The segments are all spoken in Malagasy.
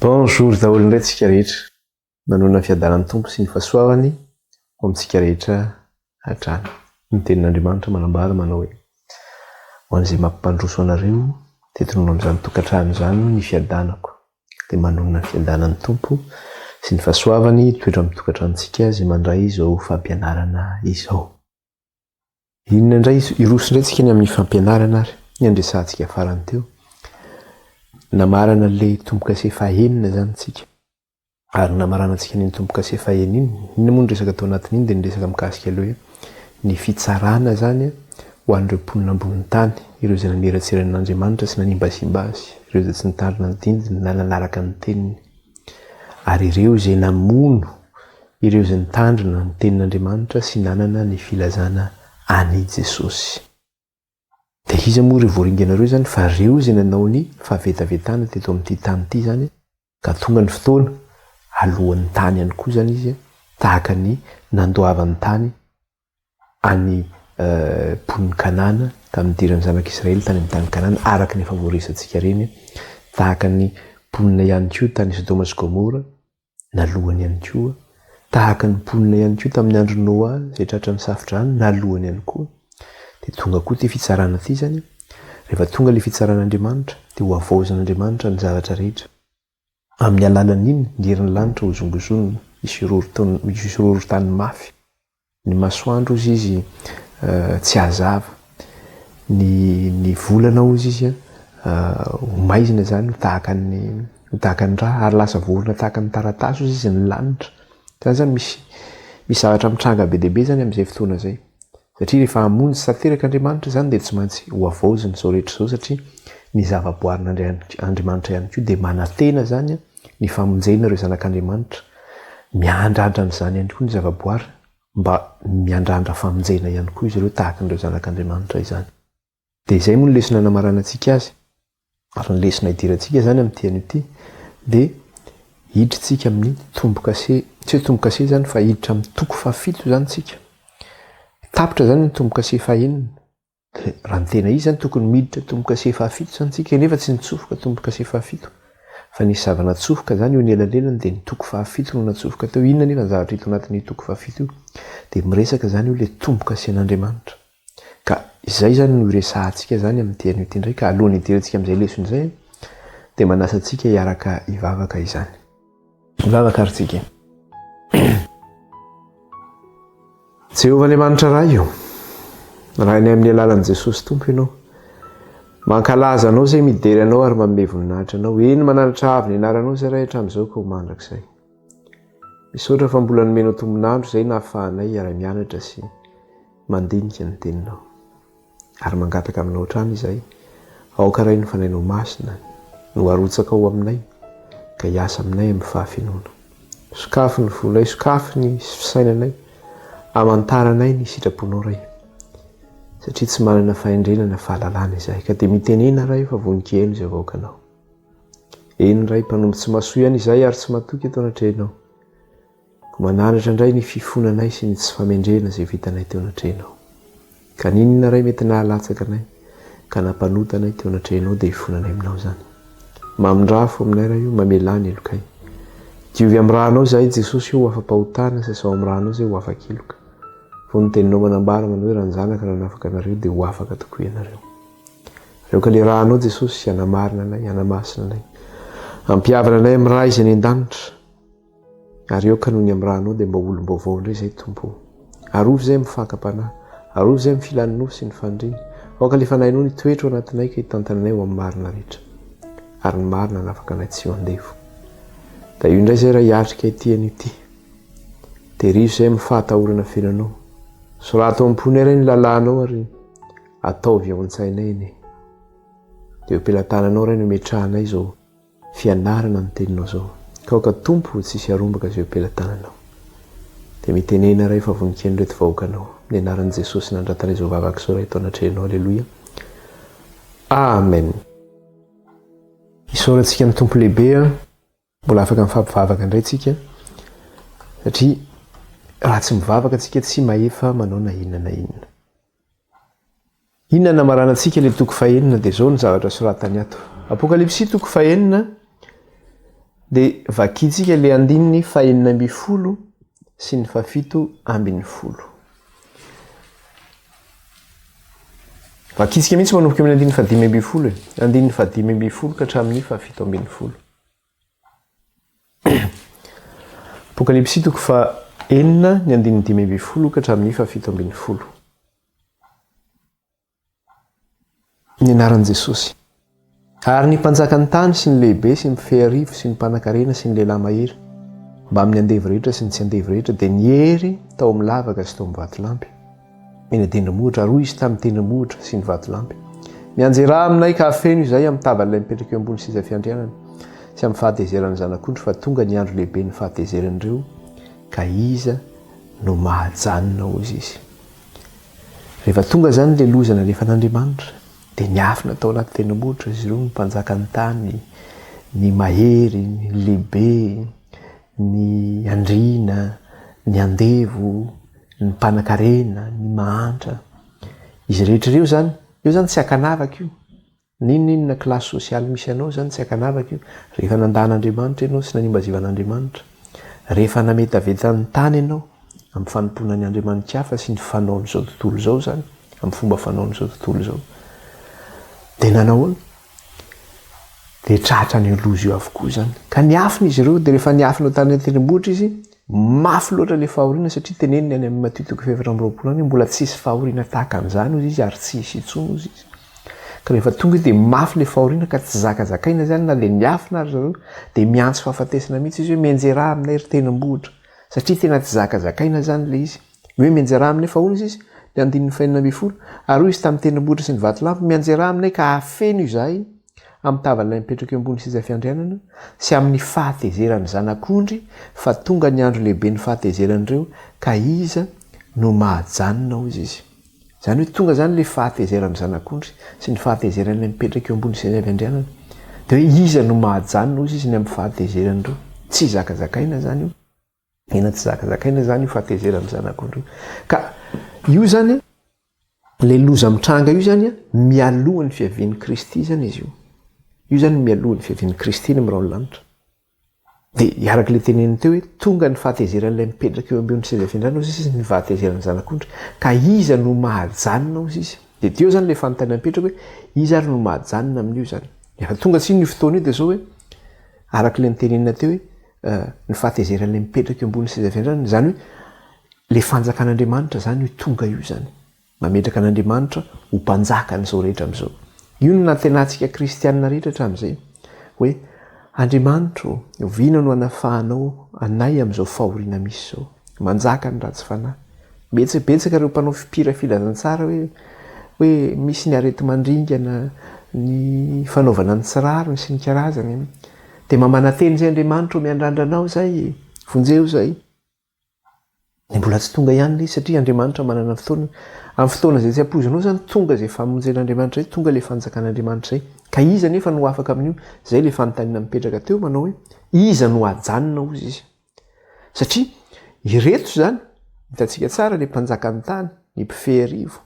Bonjour daholo indray tsika rehetra. Manoana ny fiadanan'ny Tompo sy ny fahasoavany ho amintsika rehetra hatrany. Ny tenin'Andriamanitra manambara manao hoe ho an'izay mampandroso anareo dia tononao amin'izany tokantrano izany ny fiadanako. dia manonona ny fiadanan'ny Tompo sy ny fahasoavany hitoetra amin'ny tokantranontsika izay mandray izao fampianarana izao. Inona indray hiroso indray tsika ny amin'ny fampianarana ary ny andresantsika farany teo. Namarana ilay tombo-kase fahenina izany tsika. Ary namaranantsika ny tombo-kase fahenina. Inona moa ny resaka tao anatin'iny dia ny resaka mikasika ilay hoe ny fitsarana izany ho an'ireo mponina ambonin'ny tany, ireo izay naniratsira an'Andriamanitra sy nanimbasimba Azy, ireo izay tsy nitandrina ny dindiny na nanaraka ny teniny, ary ireo izay namono ireo izay nitandrina ny tenin'Andriamanitra sy nanana ny filazana an'i Jesosy. Dia iza moa ireo voaringana ireo izany fa ireo izay nanao ny fahavetavetana teto amin'ity tany ity izany ka tonga ny fotoana aloan'ny tany ihany koa izany izy tahaka ny nandoavan'ny tany an'ny mponin'i Kanana tamin'ny nidiran'ny zanak'Israely tany amin'ny tany Kanana araka ny efa voaresantsika ireny tahaka ny mponina ihany koa tany Sodoma sy Gomora nalohany ihany koa, tahaka ny mponina ihany koa tamin'ny andron'i Noa izay tratra ny Safo-drano nalohany ihany koa, dia tonga koa ity fitsarana ity izany, rehefa tonga ilay fitsaran'Andriamanitra dia hohavaozan'Andriamanitra ny zavatra rehetra, amin'ny alalan'iny ny herin'ny lanitra hozongozonina hisorohoro tany mafy. Ny masoandro hozy izy tsy hazava, ny ny volana hozy izy ho maizina izany ho tahaka ny ho tahaka ny rà ary lasa voaorina tahaka ny taratasy hozy izy ny lanitra, zany zany misy misy zavatra mitranga be dia be zany amin'izay fotoana izay, satria rehefa hamonjy tanteraka Andriamanitra izany dia tsy maintsy ho havaozina izao rehetra izao satria ny zavaboarin'Andrian- Andriamanitra ihany koa dia manantena izany an, ny famonjena ireo zanak'Andriamanitra, miandrandra an'izany ihany koa ny zavaboary mba miandrandra famonjena ihany koa izy ireo tahaka an'ireo zanak'Andriamanitra izany. Dia izay moa ny lesona anamaranantsika azy, ary ny lesona idirantsika izany amin'ity anio ity dia hiditrsika amin'ny tombo-kase, tsy hoe tombo-kase izany fa hiditra amin'ny toko fahafito izany isika, tapitra izany ny tombo-kase fahenina, Raha ny tena izy izany tokony miditra tombo-kase fahafito izany tsika nefa tsy nitsofoka tombo-kase fahafito fa nisy zava-natsofoka izany eo ny elalelany dia ny toko fahafito no natsofoka teo inona nefa ny zavatra hita ao anatin'io toko fahafito io dia miresaka izany io ilay tombo-kasen'Andriamanitra ka izay izany no iresahantsika izany amin'ity anio ity indray ka alohan'ny hidirantsika amin'izay lesona izay dia manasa antsika hiaraka hivavaka izany. Vavaka ary tsika. Jehovah Andriamanitra Ray io. Rainay amin'ny alalan'i Jesosy Tompo ianao. Mankalaza anao izay midera anao ary manome voninahitra anao. Eny mananatra avo ny anaranao izay Ray hatramin'izao ka ho mandrakizay. Misaotra fa mbola nomenao tombonandro izay nahafahanay hiara-mianatra sy mandinika ny teninao. Ary mangataka aminao hatrany izahay, aoka Ray ny Fanahinao Masina no arotsaka ao aminay ka hiasa aminay amin'ny fahafenoana. Sokafy ny fonay, sokafy ny fisainanay, amantaranay ny sitraponao Ray, satria tsy manana fahendrena na fahalalana izahay, ka dia mitenena Ray fa vonon-kiheno izay vahoakanao. Eny Ray, mpanompo tsy mahasoa ihany izahay ary tsy matoky eto anatrehanao. Mananatra indray ny fifonanay sy ny tsy famendrena izay vitanay teo anatrehanao. Ka n'inona ray mety nahalatsaka anay ka nampanota anay teo anatrehanao dia ifonanay aminao izany. Mamindrà fo aminay ray o, mamelà ny helokay. Diovy amin'ny rànao izahay Jesosy o, ho afa-pahotana, sasao amin'ny rànao izay ho afa-keloka. Fony ny teninao manambara manao hoe raha ny zanaka nanafaka anareo dia ho afaka tokoa ianareo. Aleoka ilay rànao Jesosy hanamarina anay, hanamasina anay. Ampihavana anay amin'ny Ray izay any an-danitra. Ary aoka noho ny amin'ny ra anao dia mba ho olom-baovao indray izay Tompo o. Arovy izay amin'ny fakam-panahy. Arovy izay amin'ny filan'ny nofo sy ny faniriany. Aoka ilay fanahinao ny hitoetra ao anatinay ka hitantana anay ho amin'ny marina rehetra. Ary ny marina hanafaka anay tsy ho andevo. Da io indray izay raha hiatrika ity anio ity. Terizo izay amin'ny fahatahorana feno anao. Soraty ao am-ponay Ray ny lalànao ary ataovy ao an-tsainay anie. Dia eo am-pelatananao Ray no imetrahanay izao. fianarana ny teninao zao ka aoka Tompo tsisy harombaka izay pelatananao dia mitenena Ray fa vonikeno ireto vahoakanao amin'ny anaran'i Jesosy nandratana izao vavaka izao Ray eto anatrehanao Aleloia Amen. Isaorantsika ny Tompo lehibe a! Mbola afaka mifampivavaka indray tsika satria raha tsy mivavaka tsika tsy mahefa manao na inona na inona. Inona no hamaranantsika ilay toko fahenina dia izao ny zavatra soratany ato. Apokalypsy toko fahenina dia vakintsika ilay andininy fahenina ambin'ny folo sy ny fafito ambin'ny folo. Vakintsika mihitsy manomboka amin'ny andininy fadimy ambin'ny folo e. Andininy fadimy ambin'ny folo ka hatramin'ny fafito ambin'ny folo. Apokalypsy toko faha enina ny andininy dimy ambin'ny folo ka hatramin'ny faha fito ambin'ny folo. Ny anaran'i Jesosy. Ary ny mpanjakan'ny tany sy ny lehibe sy ny mpifehy arivo sy ny mpanankarena sy ny lehilahy mahery mbamin'ny andevo rehetra sy ny tsy andevo rehetra dia niery tao amin'ny lavaka sy tao amin'ny vatolampy. eny an-tendrombohitra, ary hoy izy tamin'ny tendrombohitra sy ny vatolampy, Mianjerà aminay ka afeno izay amin'ny tavany ilay mipetraka eo ambony seza fiandrianana, sy amin'ny fahatezeran'ny Zanak'ondry, fa tonga ny andro lehiben'ny fahatezeran'ireo, ka iza no mahajanona, hoy izy. Rehefa tonga izany ilay loza nalefan'Andriamanitra, dia niafina tao anaty tendrombohitra izy ireo, ny mpanjakan'ny tany, ny mahery, ny lehibe, Ny andriana, ny andevo, ny mpanakarena, ny mahantra. Izy rehetra ireo izany, io izany tsy ankanavaka io. N'inon'inona classe sociale misy anao izany tsy ankanavaka io. Rehefa nandà an'Andriamanitra ianao sy nanimba zivan'Andriamanitra, rehefa nametaveta ny tany ianao amin'ny fanompoana ny andriamani-kafa sy ny fanaon'izao tontolo izao izany, amin'ny fomba fanaon'izao tontolo izao, dia nanahoana? Dia tratra an'io loza io avokoa izany. Ka niafina izy ireo, dia rehefa niafina tany an-tendrombohitra izy, mafy loatra ilay fahoriana satria teneniny any amin'ny Matio toko fahefatra amby roapolo any hoe mbola tsy hisy fahoriana tahaka an'izany hozy izy ary tsy hisy intsony hozy izy. Ka rehefa tonga io dia mafy ilay fahoriana ka tsy zakazakaina izany na dia niafina ary zareo dia miantso fahafatesana mihitsy izy hoe mianjera ahy aminay ry tendrombohitra satria tena tsy zakazakaina izany ilay izy. Hoe mianjera aminy efa hono izy, ny andininy fahenina ambin'ny folo, ary hoy izy tamin'ny tendrombohitra sy ny vatolampy, Mianjera aminay ka hafeno izahay amin'ny tavan'ilay mipetraka eo ambony seza fiandrianana sy amin'ny fahatezeran'ny Zanak'ondry, fa tonga ny andro lehiben'ny fahatezeran'ireo, ka iza no mahajanona, hoy izy. Izany hoe tonga izany ilay fahatezeran'ny Zanak'ondry sy ny fahatezeran'ilay mipetraka eo ambony seza fiandrianana. Dia hoe iza no mahajanona, hoy izy, ny amin'ny fahatezeran'ireo. Tsy zakazakaina izany io. Tena tsy zakazakaina zany io fahatezerana ny zanak'ondry io. Ka io zany le loza mitranga io zany mialoha ny fiavian'i Kristy zany izy io. Io zany mialoha ny fiavian'i Kristy ny mirao ny lanitra. Dia iaraka le teneniny teo hoe tonga ny fahatezeran'ilay mipetraka eo ambon'ny seza fiandrana hozy izy ny fahatezeran'ny zanak'ondry. Ka iza no mahajanona hozy izy? Dia teo zany le fanontaniana mipetraka hoe iza ary no mahajanona amin'io zany? Efa tonga tsiny io fotoana io dia zao hoe araka le nitenenina teo hoe ny fahatezeran'ilay mipetraka eo ambonin'ny seza fiandrana, izany hoe ilay fanjakan'Andriamanitra izany io tonga io izany, mametraka an'Andriamanitra ho mpanjaka an'izao rehetra amin'izao. Io no nantenatsika kristianina rehetra hatramin'izay hoe Andriamanitra ô, oviana no anafahanao anay amin'izao fahoriana misy izao? Manjaka ny ratsy fanahy. Betsaka betsaka ireo mpanao fipira filazantsara hoe hoe misy ny areti-mandringana, ny fanaovana ny tsy rariny sy ny karazany. Dia mba manantena izay Andriamanitra ho miandrandra anao izay e! Vonjeo izay. Dia mbola tsy tonga ihany ilay izy satria Andriamanitra manana fotoana. Amin'ny fotoana izay tsy ampoizinao izany tonga izay famonjen'Andriamanitra izay, tonga ilay fanjakan'Andriamanitra izay. Ka iza anefa no ho afaka amin'io? Izay ilay fanontaniana mipetraka teo manao hoe, iza no hajanona hozy izy? Satria ireto izany, hitantsika tsara ny mpanjakan'ny tany, ny mpifeharivo,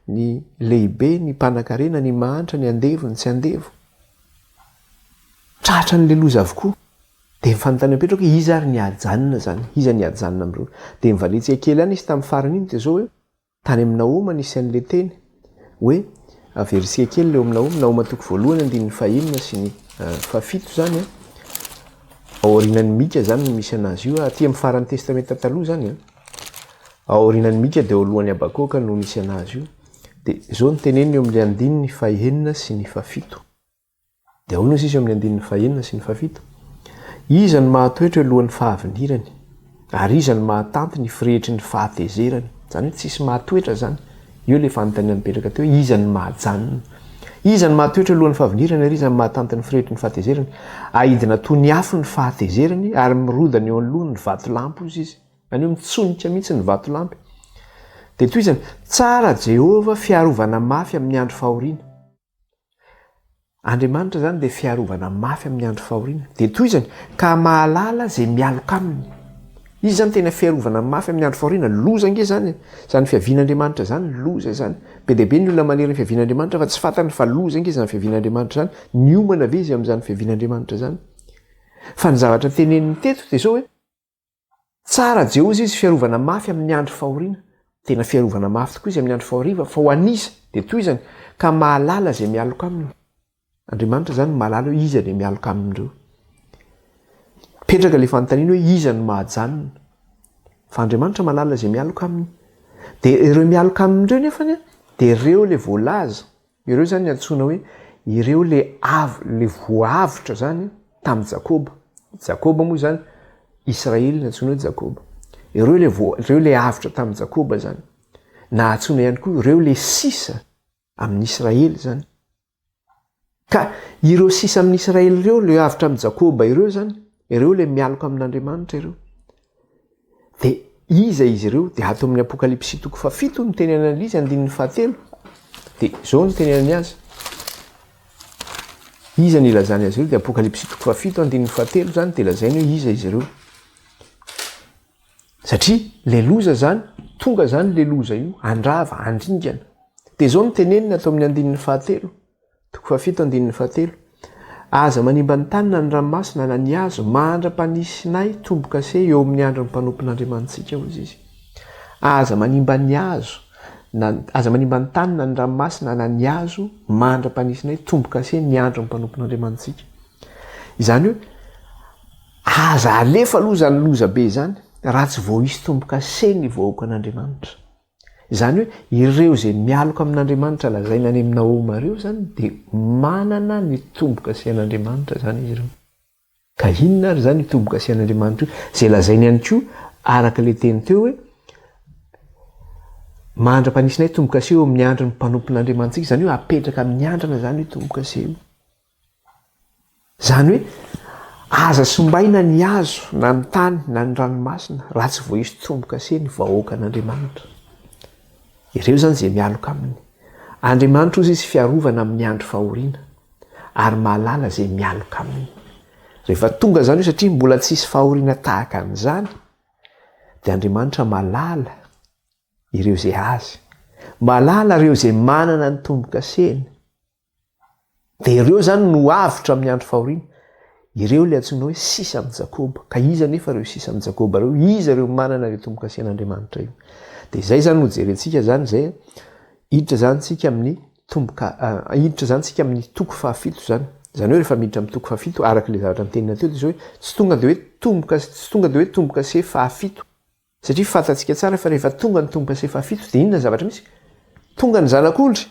ny lehibe, ny mpanankarena, ny mahantra, ny andevo, ny tsy andevo. Tratra an'ilay loza avokoa. Dia ny fanontanian'i Petro hoe iza ary ny hajanona izany? Iza ny hajanona amin'ireo? Dia nivalintsika kely ihany izy tamin'ny farany iny dia izao hoe Tany amin'ny Nahoma nisy an'ilay teny hoe averitsika kely ilay ao amin'ny Nahoma, Nahoma toko voalohany andininy fahenina sy ny fahafito izany an, ao aorianan'i Mika izany no misy anazy io, aty amin'ny faran'ny testamenta taloha izany an, ao aorianan'i Mika dia ao alohan'i Habakoka no misy anazy io, dia izao no teneniny eo amin'ilay andininy fahenina sy ny fahafito. Dia ahoana sisa amin'ny andininy fahenina sy ny fahafito? Iza no mahatoetra eo alohan'ny fahavinirany? Ary iza no mahatanty ny firehitry ny fahatezerany? Izany hoe tsisy mahatoetra izany. Io ilay fanontaniana nipetraka teo hoe iza no mahajanona? Iza no mahatoetra eo alohan'ny fahavinirany ary iza no mahatanty ny firehitry ny fahatezerany? Ahidina toy ny afo ny fahatezerany ary mirodana eo anoloany ny vatolampy, hoy Izy. Izany hoe mitsonika mihitsy ny vatolampy. Dia toy izany, Tsara Jehovah, fiarovana mafy amin'ny andro fahoriana. Andriamanitra izany dia fiarovana mafy amin'ny andro fahoriana. Dia tohizany, ka mahalala izay mialoka aminy. Izy izany tena fiarovana mafy amin'ny andro fahoriana. Loza ange izany, izany fiavian'Andriamanitra izany, loza izany. Be dia be ny olona manery ny fiavian'Andriamanitra fa tsy fantany fa loza ange izany fiavian'Andriamanitra izany. Niomana ve izy amin'izany fiavian'Andriamanitra izany? Fa ny zavatra teneniny teto dia izao hoe. Tsara jehoza izy fiarovana mafy amin ny andro fahoriana tena fiarovana mafy tokoa izy amin ny andro fahoriva fa ho an iza dia toizany ka mahalala izay mialoka aminy Andriamanitra izany no mahalala hoe iza ilay mialoka aminy ireo mipetraka ilay fanontaniana hoe iza no mahajanona fa Andriamanitra mahalala izay mialoka aminy dia ireo mialoka aminy ireo nefany dia ireo ilay voalaza Ireo zany antsoina hoe ireo le avy le voavotra zany tam Jakoba, Jakoba moa zany Israely no antsoina hoe Jakoba, ireo le voa ireo le avotra tam Jakoba zany, na antsoina ihany koa ireo le sisa amin Israely zany, ka ireo sisa amin Israely ireo le avotra am Jakoba ireo zany, Ireo ilay mialoka amin'Andriamanitra ireo. Dia iza izy ireo? Dia ato amin'ny Apokalypsy toko fahafito ny teny an'Analisa andininy fahatelo. Dia izao ny teny an'ny azy. Iza ny ilazany azy ireo? Dia Apokalypsy toko fahafito andininy fahatelo izany dia lazainy hoe iza izy ireo. Satria le loza zany, tonga zany le loza io, andrava, andringana. Dia izao ny tenenina ato amin'ny andininy fahatelo. Toko fahafito andininy fahatelo. Aza manimba ny tany na ny ranomasina na ny hazo mandra-panisinay tombo-kase eo amin'ny andron'ny mpanompon'Andriamanitsika, hoy izy. Aza manimba ny hazo na aza manimba ny tany na ny ranomasina na ny hazo mandra-panisinay tombo-kase ny andron'ny mpanompon'Andriamanitsika. Izany hoe aza alefa aloha izany loza be izany raha tsy vao hisy tombo-kase ny vahoakan'Andriamanitra. Izany hoe ireo izay mialoka amin'Andriamanitra lazaina any amin'ny Nahoma ireo izany dia manana ny tombo-kasihan'Andriamanitra izany izy ireo. Ka inona ary izany io tombo-kasihan'Andriamanitra io izay lazainy ihany koa araka ilay teny teo hoe mandra-panisinay tombo-kase eo amin'ny andron'ny mpanompon'Andriamanitsika, izany hoe apetraka amin'ny andrana izany io tombo-kase io. Izany hoe, aza simbaina ny hazo na ny tany na ny ranomasina raha tsy voaisy tombo-kase ny vahoaka an'Andriamanitra. Ireo izany izay mialoka aminy. Andriamanitra ozy izy fiarovana amin'ny andro fahoriana ary mahalala izay mialoka aminy. Rehefa tonga izany io satria mbola tsy hisy fahoriana tahaka an'izany dia Andriamanitra mahalala ireo izay azy. Mahalala ireo izay manana ny tombo-kaseny. Dia ireo izany no avotra amin'ny andro fahoriana. Ireo ilay antsoina hoe sisa amin'i Jakoba. Ka iza anefa ireo sisa amin'i Jakoba ireo? Iza ireo manana ilay tombo-kasian'Andriamanitra io? Dia izay izany no jerentsika izany izay hiditra izany tsika amin'ny tomboka, hiditra izany tsika amin'ny toko fahafito izany. Izany hoe rehefa miditra amin'ny toko fahafito, araka ilay zavatra nitenina teo, dia izao hoe tsy tonga dia hoe tomboka, tsy tonga dia hoe tombo-kase fahafito. Satria fantatsika tsara fa rehefa tonga ny tombo-kase fahafito dia inona ny zavatra misy? Tonga ny Zanak'ondry!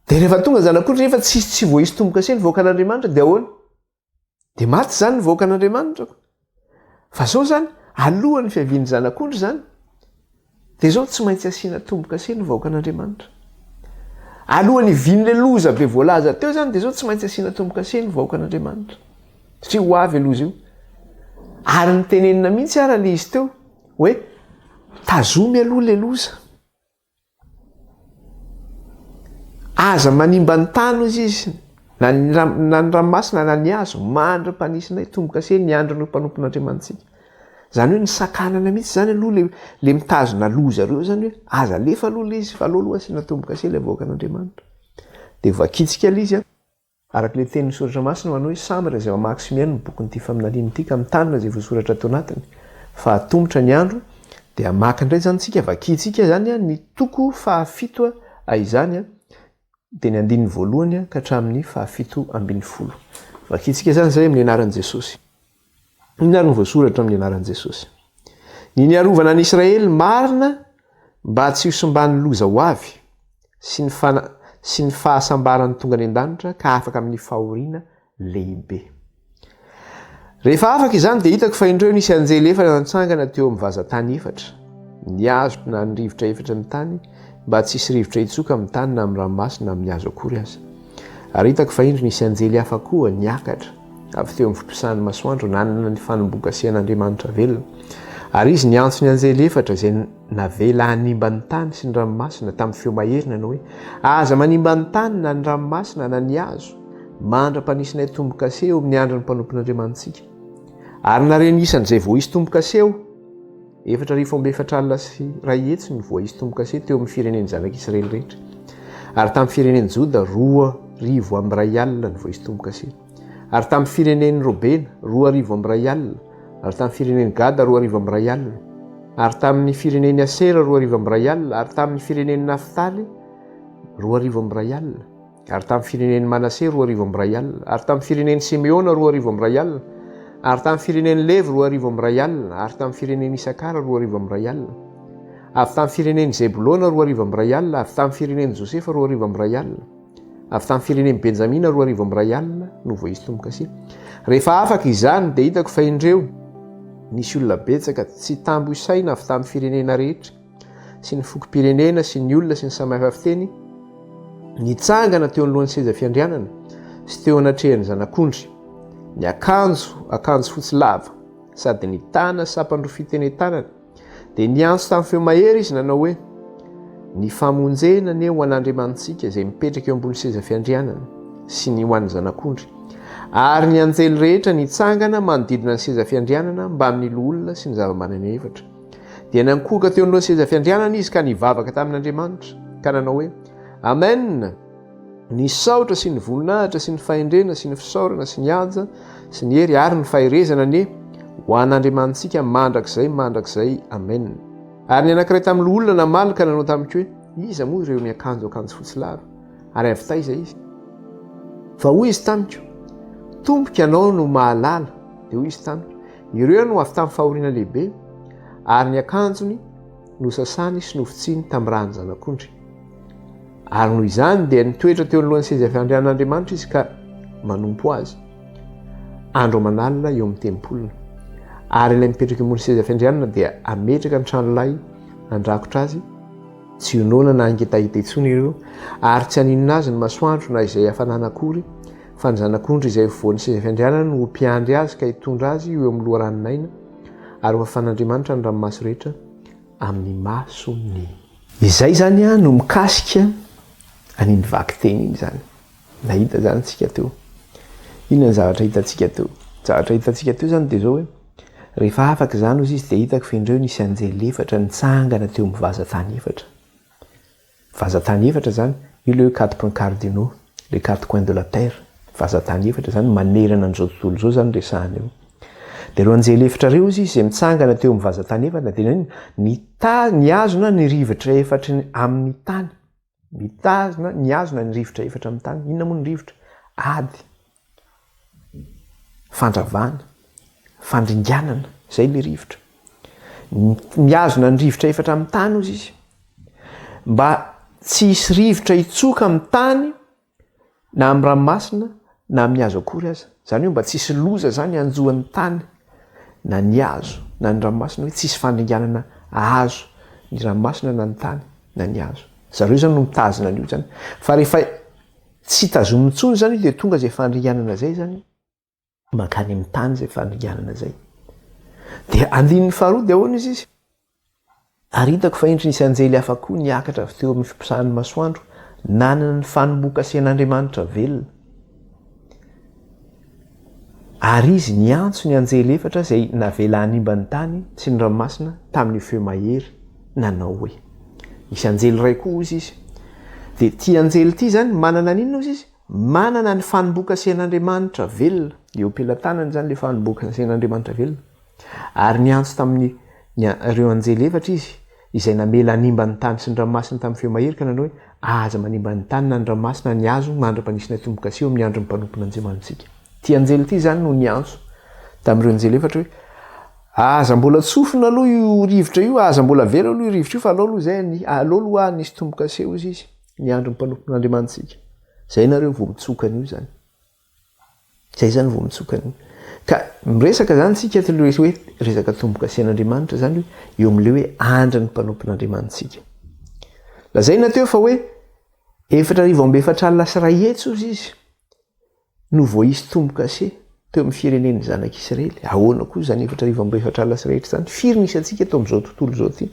Dia rehefa tonga ny zanak'ondry nefa tsy tsy voaisy tombo-kase ny vahoakan'Andriamanitra dia ahoana? Dia maty izany ny vahoakan'Andriamanitra. Fa izao izany, alohan'ny fiavian'ny zanak'ondry izany, dia izao tsy maintsy asiana tombo-kase ny vahoakan'Andriamanitra. Alohan'ny hivian'ilay loza be voalaza teo izany dia izao tsy maintsy asiana tombo-kase ny vahoakan'Andriamanitra. Satria ho avy loza io. Ary ny tenenina mihitsy ara ilay izy teo hoe tazomy aloha ilay loza. Aza manimba ny tany hozy izy, na ny ranomasina na ny hazo, mandry ny mpanisinay, tombo-kase ny andrin'ireo mpanompon'Andriamanitsika. Izany hoe nisakanana mihitsy izany aloha ilay ilay mitazona loza ireo izany hoe aza alefa aloha ilay izy fa aleo aloha asiana tombo-kase ilay vahoakan'Andriamanitra. Dia vakintsika ilay izy an! Araka ilay tenin'ny Soratra Masina manoa hoe, Samy ireo izay mamaky sy mihaino ny bokin'ity faminaniana ity ka mitanina izay voasoratra ato anatiny, fa hatomotra ny andro, dia hamaky indray izany isika, vakintsika izany ny toko fahafito izany, dia ny andininy voalohany ka hatramin'ny fahafito ambin'ny folo. Vakintsika izany izay amin'ny anaran'i Jesosy. Inona ary no voasoratra amin'ny anaran'i Jesosy? Ny niarovana an'i Israely marina mba tsy hosimban'ny loza ho avy sy ny fana sy ny fahasambaran'ny tonga any an-danitra ka afaka amin'ny fahoriana lehibe. Rehefa afaka izany dia hitako fa indreo nisy anjely efatra nantsangana teo amin'ny vazan-tany efatra, niazotro na ny rivotra efatra ny tany mba tsy hisy rivotra hitsoka amin'ny tany na amin'ny ranomasina na amin'ny hazo akory aza. Ary hitako fahendry nisy anjely hafa koa niakatra avy teo amin'ny fotosan'ny masoandro nanana ny fanombokasehan'Andriamanitra velona. Ary izy niantso ny anjely efatra izay navela hanimba ny tany sy ny ranomasina tamin'ny feo mahery nanao hoe, Aza manimba ny tany na ny ranomasina na ny hazo mandra-panisinay tombo-kase eo amin'ny andron'ny mpanompon'Andriamanitsika. Ary nare ny isan'izay vao hisy tombo-kase eo. Efatra arivo amby efatra alina sy iray hetsy no voaisy tombo-kase teo amin'ny firenen'ny Zanak'Israely rehetra. Ary tamin'ny firenen'i Joda, roa arivo amby iray alina no voaisy tombo-kase. Ary tamin'ny firenen'i Robena, roa arivo amby iray alina. Ary tamin'ny firenen'i Gada, roa arivo amby iray alina. Ary tamin'ny firenen'i Asera, roa arivo amby iray alina. Ary tamin'ny firenen'i Naftaly, roa arivo amby iray alina. Ary tamin'ny firenen'i Manase roa arivo amby iray alina, ary tamin'ny firenen'i Simeona roa arivo amby iray alina, ary tamin'ny firenen'i Levy roa arivo amby iray alina, ary tamin'ny firenen'i Isakara roa arivo amby iray alina, avy tamin'ny firenen'i Zebolona roa arivo amby iray alina, avy tamin'ny firenen'i Josefa roa arivo amby iray alina, avy tamin'ny firenen'i Benjamina roa arivo amby iray alina no voaisy tombo-kase. Rehefa afaka izany dia hitako fa indreo nisy olona betsaka tsy tambo isaina avy tamin'ny firenena rehetra, sy ny fokom-pirenena sy ny olona sy ny samy hafa fiteny nitsangana teo anoloan'ny seza fiandrianana sy teo anatrehan'ny zanak'ondry ny akanjo akanjo fotsy lava sady ny tana sapandro fiteny tanana dia niantso tamin'ny feo mahery izy nanao hoe ny famonjena anie ho an'andriamanitsika izay mipetraka eo ambony seza fiandrianana sy ny ho an'ny zanak'ondry ary ny anjely rehetra nitsangana manodidina ny seza fiandrianana mbamin'ny loholona sy ny zava-manana efatra Dia nankohoka teo anoloan'ny seza fiandrianana izy ka nivavaka tamin'Andriamanitra, ka nanao hoe, Amena! Ny saotra sy ny voninahitra sy ny fahendrena sy ny fisaorana sy ny haja sy ny hery ary ny faherezana anie ho an'Andriamanitsika mandrakizay mandrakizay. Amena. Ary ny anankiray tamin'ny loholona namaly ka nanao tamiko hoe, Iza moa ireo niakanjo akanjo fotsy lava? Ary avy taiza izy? Fa hoy izy tamiko, Tompoko, ianao no mahalala. Dia hoy izy tamiko, Ireo no avy tamin'ny fahoriana lehibe, ary ny akanjony nosasany sy nofotsiny tamin'ny ràn'ny Zanak'ondry. Ary noho izany dia nitoetra teo anoloan'ny seza fiandrianan'Andriamanitra izy ka manompo azy andro aman'alina eo amin'ny tempoliny. Ary ilay mipetraka eo ambony seza fiandrianana dia hametraka ny tranolay handrakotra azy, Tsy inoana na hangitahita intsony ireo, ary tsy haninona azy ny masoandro na izay hafanana akory, fa ny Zanak'ondry izay ho voan'ny seza fiandrianany no ho mpiandry azy ka hitondra azy ho eo amin'ny loharanon'aina, ary ho afan'Andriamanitra ny ranomaso rehetra amin'ny masony. Izay izany no mikasika an'iny vakiteny iny izany. Nahita zany tsika teo. Inona ny zavatra hitantsika teo? Ny zavatra hitantsika teo zany de zao hoe, rehefa afaka izany ozy izy de hitako fa indreo nisy anjely efatra nitsangana teo amin'ny vazan-tany efatra. Vazan-tany efatra zany, io le hoe quatre points cardinaux, les quatre coins de la terre, vazan-tany efatra zany manerana an'izao tontolo izao zany resahana eo. De reo anjely efatra reo ozy izy zay mitsangana teo amin'ny vazan-tany efatra de nitazona ny rivotra efatry ny amin'ny tany. Mitazona, mihazona ny rivotra efatra amin'ny tany. Inona moa ny rivotra? Ady, fandravana, fandringanana, izay ilay rivotra. Mihazona ny rivotra efatra amin'ny tany ozy izy. Mba tsy hisy rivotra hitsoka amin'ny tany, Na amin'ny ranomasina na amin'ny hazo akory aza. Izany hoe mba tsy hisy loza izany hanjo ny tany na ny hazo na ny ranomasina hoe tsy hisy fandringanana hahazo ny ranomasina na ny tany na ny hazo. Zareo izany no mitazona an'io izany. Fa rehefa tsy tazomin'ny intsony izany io dia tonga izay fandringanana izay izany. mankany amin'ny tany izay fanonganana izay. Dia andininy faharoa dia ahoana izy izy? Ary hitako fa indry nisy anjely hafa koa niakatra avy teo amin'ny fiposahan'ny masoandro, nanana ny fanombokasen'Andriamanitra velona. Ary izy niantso ny anjely efatra izay navela hanimba ny tany sy ny ranomasina tamin'io feo mahery, nanao hoe, Misy anjely iray koa, hoy izy. Dia ity anjely ity izany manana an'inona, hoy izy? Manana ny fanombokasen'Andriamanitra velona, eo am-pelatanany izany ilay fanombokasen'Andriamanitra velona, ary niantso tamin'ny ny ireo anjely efatra Izy, izay namela hanimba ny tany sy ny ranomasina tamin'ny feo mahery ka nanao hoe, Aza manimba ny tany na ny ranomasina na ny hazo mandra-panisy ny atombokaseho amin'ny andron'ny mpanompon'Andriamanitsika. Ity anjely ity izany no niantso tamin'ireo anjely efatra hoe, Aza mbola tsofina aloha io rivotra io, aza mbola avela aloha io rivotra io, fa alao aloha izay, alao aloha hanisy tombokaseho izy. ny andron'ny mpanompon'Andriamanitsika. Izay nareo vao mitsoka an'io izany. Izay izany vao mitsoka an'io. Ka miresaka izany tsika tsy le hoe resaka tombokasen'Andriamanitra izany eo amin'ilay hoe andry ny mpanompon'Andriamanitsika. Lazaina teo fa hoe efatra arivo amby efatra alina sy iray hetsy ozy izy. No voaisy tombo-kase teo amin'ny firenen'ny Zanak'Isiraely. Ahoana koa izany efatra arivo amby efatra alina sy iray hetsy izany? Firy ny isantsika eto amin'izao tontolo izao ity?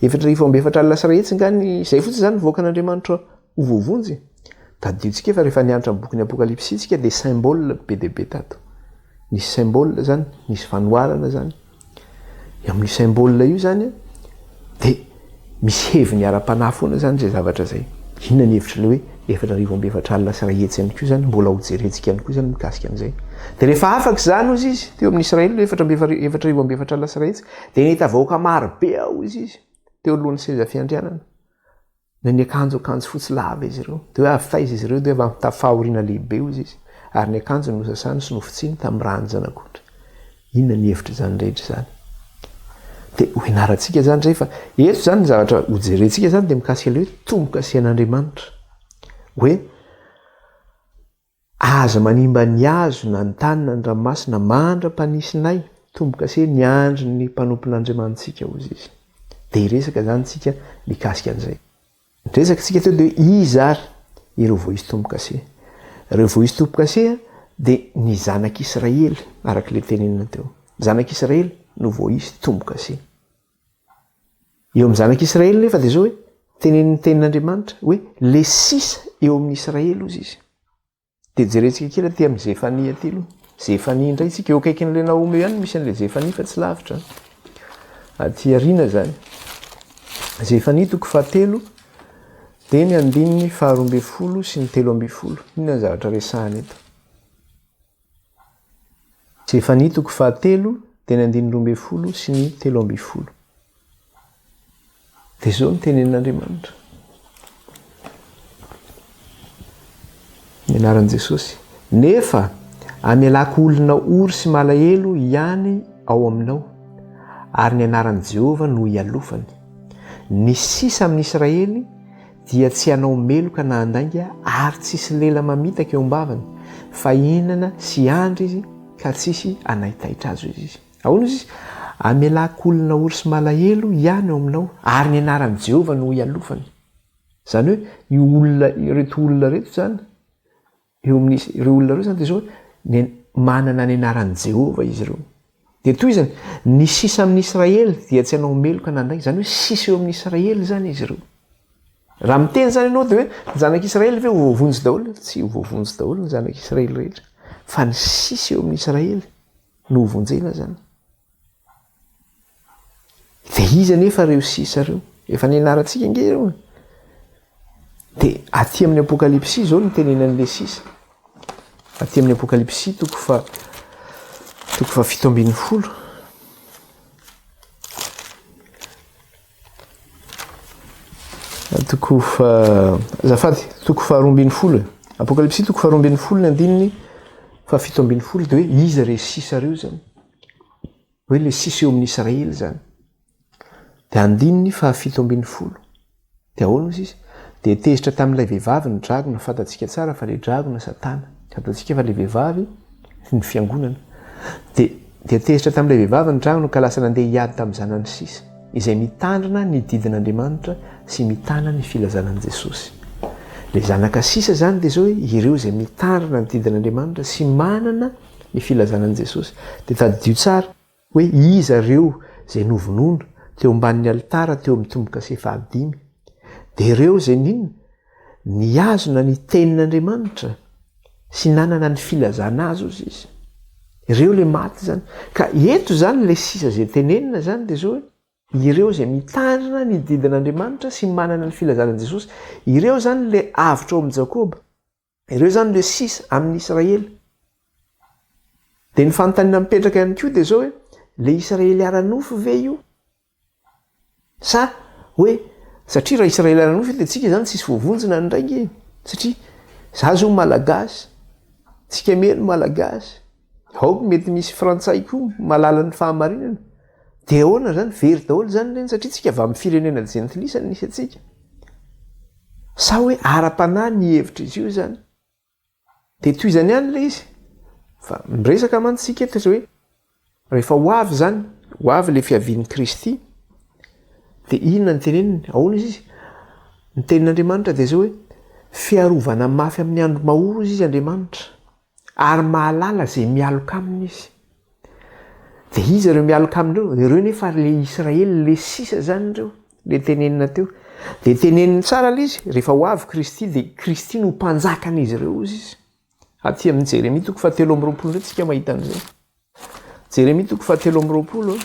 Efatra arivo amby efatra alina sy iray hetsy nga ny, izay fotsiny izany ny vahoakan'Andriamanitra ho voavonjy? Tadidintsika fa rehefa nianatra ny bokin'ny Apokalypsy isika dia symbole be dia be tato. Nisy symbole izany, nisy fanoharana izany. Amin'io symbole io zany dia misy heviny ara-panahy foana zany zay zavatra zay. Inona ny hevitry le hoe efatra arivo amby efatra alina sy iray hetsy ihany koa zany? Mbola ho jerentsika ihany koa zany mikasika an'izay. Dia rehefa afaka izany hozy izy teo amin'ny Israely le efatra amby efatra arivo amby efatra alina sy iray hetsy dia nahita vahoaka maro be aho hozy izy teo alohan'ny seza fiandrianana. Na niakanjo akanjo fotsy lava izy ireo, dia hoe avy taiza izy ireo, dia avy amin'ny tafo fahoriana lehibe, hoy izy, ary ny akanjony nosasany sy nofotsiany tamin'ny ran'ny Zanak'ondry. Inona ny hevitr'izany rehetra izany? Dia ho ianarantsika izany indray fa eto izany ny zavatra hojerentsika izany dia mikasika ilay hoe tombo-kasihan'Andriamanitra. Hoe. Aza manimba ny hazo na ny tany na ny ranomasina mandra-panisinay tombo-kase miandry ny mpanompon'Andriamanitsika, hoy izy. Dia hiresaka izany isika mikasika an'izay. Niresaka isika teo dia iza ary ireo voaisy tombo-kase. Ireo voaisy tombo-kase dia ny zanak'Israely, araka ilay tenenina teo. Ny zanak'Israely no voaisy tombo-kase. Eo amin'ny zanak'Israely nefa dia izao hoe tenenin'ny tenin'Andriamanitra hoe le sisa eo amin'ny Israely ozy izy. Dia jerentsika kely aty amin'ny Zefania aty aloha. Zefania indray tsika eo akaikin'ilay Naomy ihany misy an'ilay Zefania fa tsy lavitra. Aty arina izany. Zefania toko fahatelo dia ny andininy faharoa ambin'ny folo sy ny telo ambin'ny folo. Inona ny zavatra resahana eto? Sefania toko fahatelo, teny andininy roa ambin'ny folo sy ny telo ambin'ny folo. Dia izao ny tenenin'Andriamanitra. Ny anaran'i Jesosy. Nefa amelako olona ory sy malahelo ihany ao aminao, ary ny anaran'i Jehovah no ialofany. Ny sisa amin'i Israely dia tsy hanao meloka na handainga ary tsy hisy lela mamitaka eo am-bavany, fa hihinana sy hiandry izy ka tsy hisy hanaitaitra azy, hoy izy. Ahoana hoy izy? Hamelako olona ory sy malahelo hiany ao aminao, ary ny anaran'i Jehovah no hialofany. Izany hoe io olona, ireto olona ireto izany, Eo amin'ireo olona ireo izany dia izao ny manana ny anaran'i Jehovah izy ireo. Dia toy izany, ny sisa amin'ny Israely dia tsy hanao meloka na handainga, izany hoe sisa eo amin'ny Israely izany izy ireo. Raha miteny izany ianao dia hoe ny zanak'i Israely ve ho voavonjy daholo? Tsy ho voavonjy daholo ny zanak'i Israely rehetra, fa ny sisa eo amin'ny Israely no hovonjena izany. Dia iza anefa ireo sisa ireo? Efa nianarantsika ange ireo e. Dia aty amin'ny apokalypsy izao no tenenan'ilay sisa. Aty amin'ny apokalypsy toko fa toko fa fito ambin'ny folo. Toko fa zafady toko fa roa ambin'ny folo e. Apokalypsy toko fa roa ambin'ny folo ny andininy fa fito ambin'ny folo dia hoe iza ireo sisa ireo izany? hoe ilay sisa eo amin'ny Israely izany, dia andininy fahafito ambin'ny folo, dia ahoana hoy izy? Dia tezitra tamin'ilay vehivavy ny dragona, fantatsika tsara fa ilay dragona Satana, fantatsika fa ilay vehivavy ny fiangonana, dia dia tezitra tamin'ilay vehivavy ny dragona ka lasa nandeha hiady tamin'ny zanany sisa, izay mitandrina ny didin'Andriamanitra sy mitana ny filazana an'i Jesosy. Ilay zanaka sisa izany dia izao hoe ireo izay mitandrina ny didin'Andriamanitra sy manana ny filazana an'i Jesosy, dia tadidio tsara hoe iza ireo izay novonoina teo ambanin'ny alitara teo amin'ny tombo-kase fahadimy. Dia ireo izay nino, nihazona ny Tenin'Andriamanitra sy nanana ny filazana Azy ozy izy. Ireo ilay maty izany. Ka eto izany ilay sisa izay tenenina izany dia izao hoe, ireo izay mitandrina ny didin'Andriamanitra sy manana ny filazana an'i Jesosy. Ireo izany ilay avotra ao amin'i Jakoba. Ireo zany le sisa amin'ny Israely. Dia ny fanontaniana mipetraka ihany koa dia zao hoe le Israely ara-nofo ve io? Sa hoe satria raha Israely ara-nofo io dia tsika izany tsisy voavonjina indray nge satria za zao malagasy, tsika miely malagasy. Aoka mety misy frantsay koa mahalala ny fahamarinana. Dia ahoana zany? Very daholo zany ireny satria tsika avy amin'ny firenena jentilisa no misy antsika. Sa hoe ara-panahy ny hevitr'izy io zany? Dia tohizany ihany ilay izy fa miresaka mantsy tsika eto hoe rehefa ho avy zany, ho avy ilay fiavian'i Kristy dia inona no teneniny? Ahoana izy izy? Ny tenin'Andriamanitra dia zao hoe fiarovana mafy amin'ny andro mahory izy izy Andriamanitra. Ary mahalala izay mialoka aminy izy. Dia iza ireo mialoka aminy ireo? Ireo nefa ary ilay Israely, ilay sisa izany ireo, ilay tenenina teo. Dia teneniny tsara ilay izy, rehefa ho avy Kristy dia Kristy no ho mpanjakan'izy ireo, hozy izy. Aty amin'ny Jeremia toko fahatelo amby roapolo indray isika mahita an'izay. Jeremia toko fahatelo amby roapolo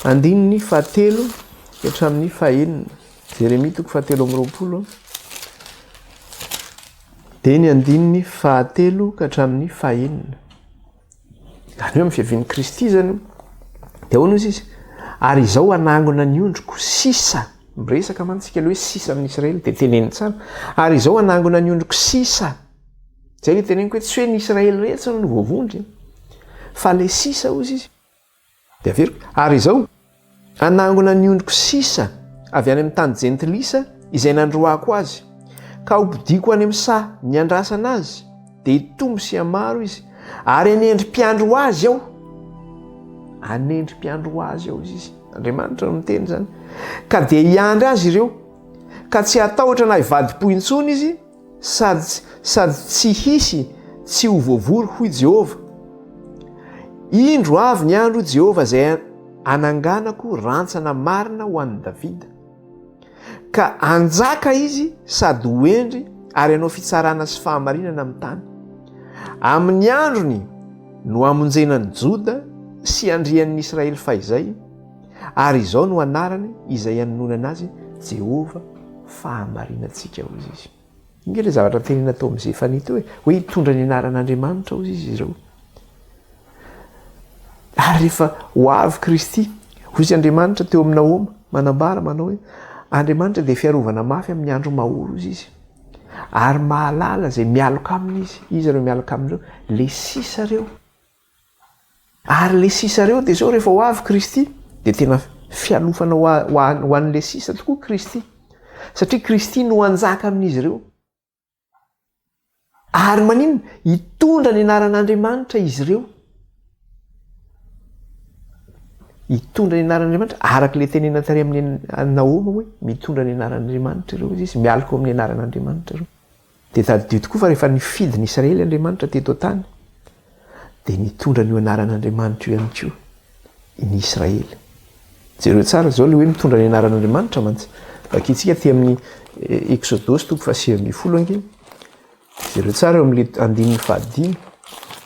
andininy fahatelo hatramin'ny fahenina. Jeremia toko fahatelo amby roapolo dia ny andininy fahatelo ka hatramin'ny fahenina. Zany hoe amin'ny fiavian'i Kristy zany io. Dia ahoana izy izy? Ary izao hanangona ny ondriko sisa. Miresaka mantsika ilay hoe sisa amin'ny Israely dia teneniny tsara. Ary izao hanangona ny ondriko sisa. Zay ny teneniko hoe tsy hoe ny Israely rehetra no voavondrona, fa le sisa hozy izy. Dia averiko. Ary izao, hanangona ny ondriko sisa avy any amin'ny tany jentilisa izay nandroahako azy, ka hopodiako any amin'ny saha niandrasana azy, dia hitombo sy hamaro izy, ary hanendri-piandry ho azy aho. Hanendri-piandry ho azy aho izy. Andriamanitra no miteny izany. Ka dia hiandry azy ireo, ka tsy hatahotra na hivadi-po intsony izy, Sady sady tsy hisy tsy ho voavory hoy Jehovah. Indro avy ny andro, hoy Jehovah, izay hananganako rantsana marina ho an'i Davida, ka hanjaka izy sady ho hendry ary hanao fitsarana sy fahamarinana amin'ny tany. Amin'ny androny no hamonjena an'i Joda sy handrian'ny Israely fahizay, Ary izao no anarany izay anononana azy, Jehovah fahamarinantsika, hoy izy. Inona ilay zavatra tenenina tao amin'i Zefania teo e? Hoe hitondra ny anaran'Andriamanitra, hoy izy ireo. Ary rehefa ho avy Kristy, hoy izy Andriamanitra teo amin'ny Nahoma, manambara manao hoe Andriamanitra dia fiarovana mafy amin'ny andro mahory, hoy izy. Ary mahalala izay mialoka aminy izy, iza ireo mialoka amin'ireo? Le sisa ireo. Ary le sisa reo de zao refa ho avy Kristy de tena fialofana ho an le sisa tokoa Kristy satria Kristy no hanjaka amin'izy reo ary maninona hitondra ny anaran'Andriamanitra izy reo hitondra ny anaran'Andriamanitra araka le tenena tary amin'ny Naoma hoe mitondra ny anaran'Andriamanitra reo izy mialoka ao amin'ny anaran'Andriamanitra reo Dia tadidio tokoa fa rehefa nifidy ny Israely Andriamanitra teto an-tany, dia nitondra an'io anaran'Andriamanitra io ihany koa i ny Israely. Jereo tsara izao ilay hoe mitondra ny anaran'Andriamanitra mantsy. Vakintsika aty amin'ny eh, Eksodosy toko fahasivy ambin'ny folo ange. Jereo tsara eo amin'ilay andininy fahadimy.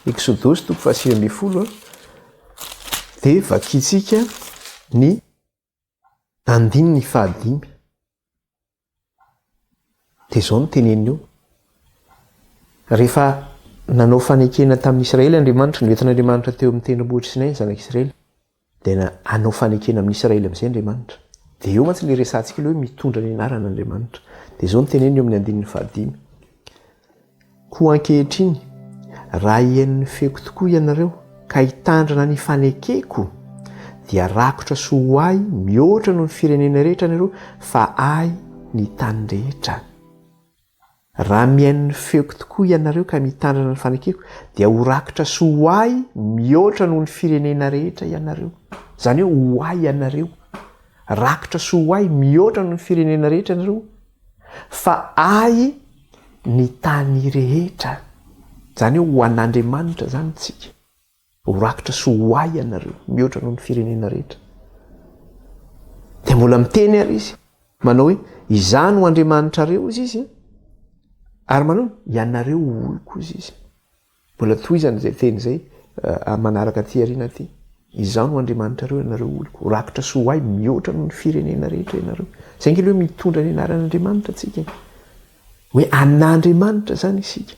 Eksodosy toko fahasivy ambin'ny folo. Dia vakintsika ny Andininy fahadimy, dia izao no teneniny eo, rehefa nanao fanekena tamin'ny Israely Andriamanitra, noentin'Andriamanitra teo amin'ny tendrombohitra Sinay ny zanak'i Israely, dia na, hanao fanekena amin'ny Israely amin'izay Andriamanitra. Dia eo mantsy ilay resahantsika ilay hoe mitondra ny anaran'Andriamanitra. Dia izao no teneniny eo amin'ny andininy fahadimy. Koa ankehitriny, raha hihainon'ny feoko tokoa ianareo ka hitandrina ny fanekeko, dia rakotra soa ho ahy mihoatra noho ny firenena rehetra ianareo fa ahy ny tany rehetra. Raha mihaino ny feoko tokoa ianareo ka mitandrina ny fanekeko, dia ho rakotra soa ho ahy mihoatra noho ny firenena rehetra ianareo. Izany hoe ho ahy ianareo. Rakotra soa ho ahy mihoatra noho ny firenena rehetra ianareo. Fa ahy ny tany rehetra, izany hoe ho an'Andriamanitra izany isika, ho rakitra sy ho ahy ianareo, mihoatra noho ny firenena rehetra. Dia mbola miteny ary izy, manao hoe, Izaho no Andriamanitrareo, hoy izy, ary manao hoe, Ianareo ho oloko, hoy izy. Mbola tohizany izay teny izay amin'ny manaraka aty aoriana aty. Izaho no Andriamanitrareo ianareo oloko, ho rakotra sy ho hay mihoatra noho ny firenena rehetra ianareo. Izay ange ilay hoe mitondra ny anaran'Andriamanitra isika e! Hoe anà Andriamanitra izany isika.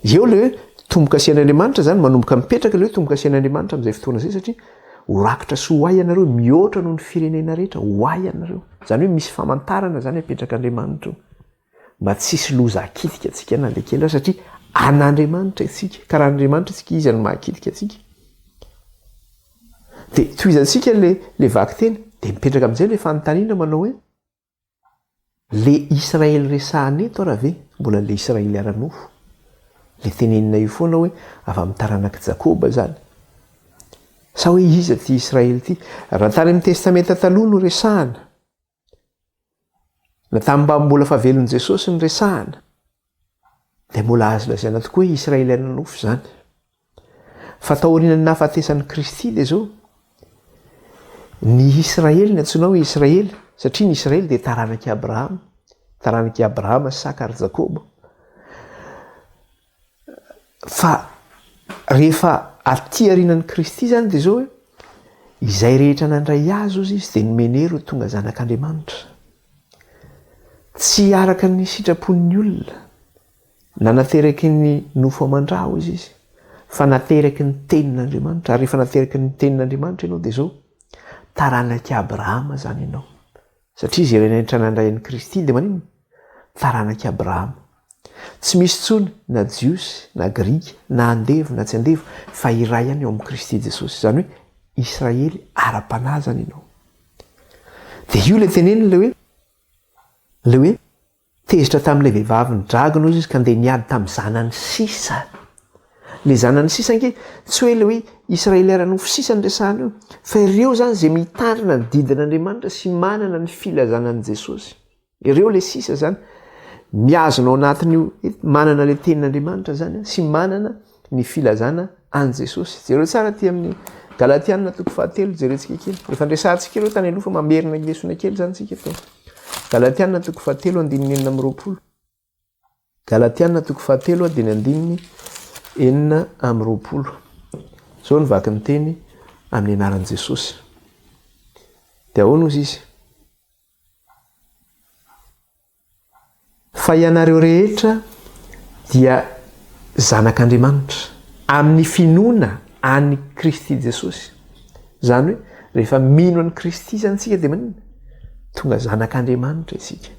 Eo ilay hoe tombo-kasihan'Andriamanitra izany, manomboka mipetraka ilay hoe tombo-kasihan'Andriamanitra amin'izay fotoana izay satria ho rakotra sy ho hay ianareo mihoatra noho ny firenena rehetra, ho hay ianareo. Izany hoe misy famantarana izany apetrak'Andriamanitra eo. mba tsy hisy loza hakitika antsika na dia kely aza satria an'Andriamanitra isika ka raha Andriamanitra isika izy no mahakitika antsika dia tohizantsika le le vakiteny dia mipetraka amin'izay le fanontaniana manao hoe le Israely resahana eto raha ve mbola le Israely ara-nofo le tenenina io foana hoe avy amin'ny taranak'i Jakoba zany sa hoe iza ty Israely ty raha tany amin'ny testamenta taloha no resahana Na tamin'ny mba mbola fa velon'i Jesosy ny resahana, dia mbola azo lazaina tokoa hoe Israeliana nofo izany. Fa taorian'ny nahafatesan'i Kristy dia izao, ny Israely ny antsoina hoe Israely, satria ny Israely dia taranak'i Abrahama, taranak'i Abrahama, Saka ary Jakoba. Fa rehefa aty arinan'i Kristy izany dia izao hoe, izay rehetra nandray Azy ozy Izy dia nomeny hery ho tonga zanak'Andriamanitra. Tsy araka ny sitrapon'ny olona, na nateraky ny nofo aman-dra ozy Izy, fa nateraky ny tenin'Andriamanitra. Ary rehefa nateraky ny tenin'Andriamanitra ianao dia izao, taranak'i Abrahama izany ianao. Satria izay renetra nandray an'i Kristy dia maninona? Taranak'i Abrahama. Tsy misy intsony na Jiosy na Grika, na andevo na tsy andevo, fa iray ihany eo amin'i Kristy Jesosy. Izany hoe Israely ara-panahy izany ianao. Dia io ilay teneniny ilay hoe, ilay hoe. Tezitra tamin'ilay vehivavy nidragona hozy izy ka ndeha niady tamin'ny zanany sisa. Ilay zanany sisa ange, tsy hoe ilay hoe Israely ara-nofo sisa no resahana eo, fa ireo izany izay mitandrina ny didin'Andriamanitra sy manana ny filazana an'i Jesosy. Ireo ilay sisa izany. Mihazona ao anatin'io hoe manana ilay Tenin'Andriamanitra izany sy manana ny filazana an'i Jesosy. Jereo tsara aty amin'ny Galatiana toko fahatelo, jerentsika kely. Efa niresahantsika ireo tany aloha fa mamerina ny lesona kely izany tsika teo. Galatiana toko fahatelo andininy enina amby roapolo. Galatiana toko fahatelo andininy andininy enina amby roapolo. Izao ny vaky ny teny amin'ny anaran'i Jesosy. Dia ahoana ozy izy? Fa ianareo rehetra dia zanak'Andriamanitra, amin'ny finoana an'i Kristy Jesosy. Izany hoe, rehefa mino an'i Kristy izany isika dia maninona? Tonga zanak'Andriamanitra isika.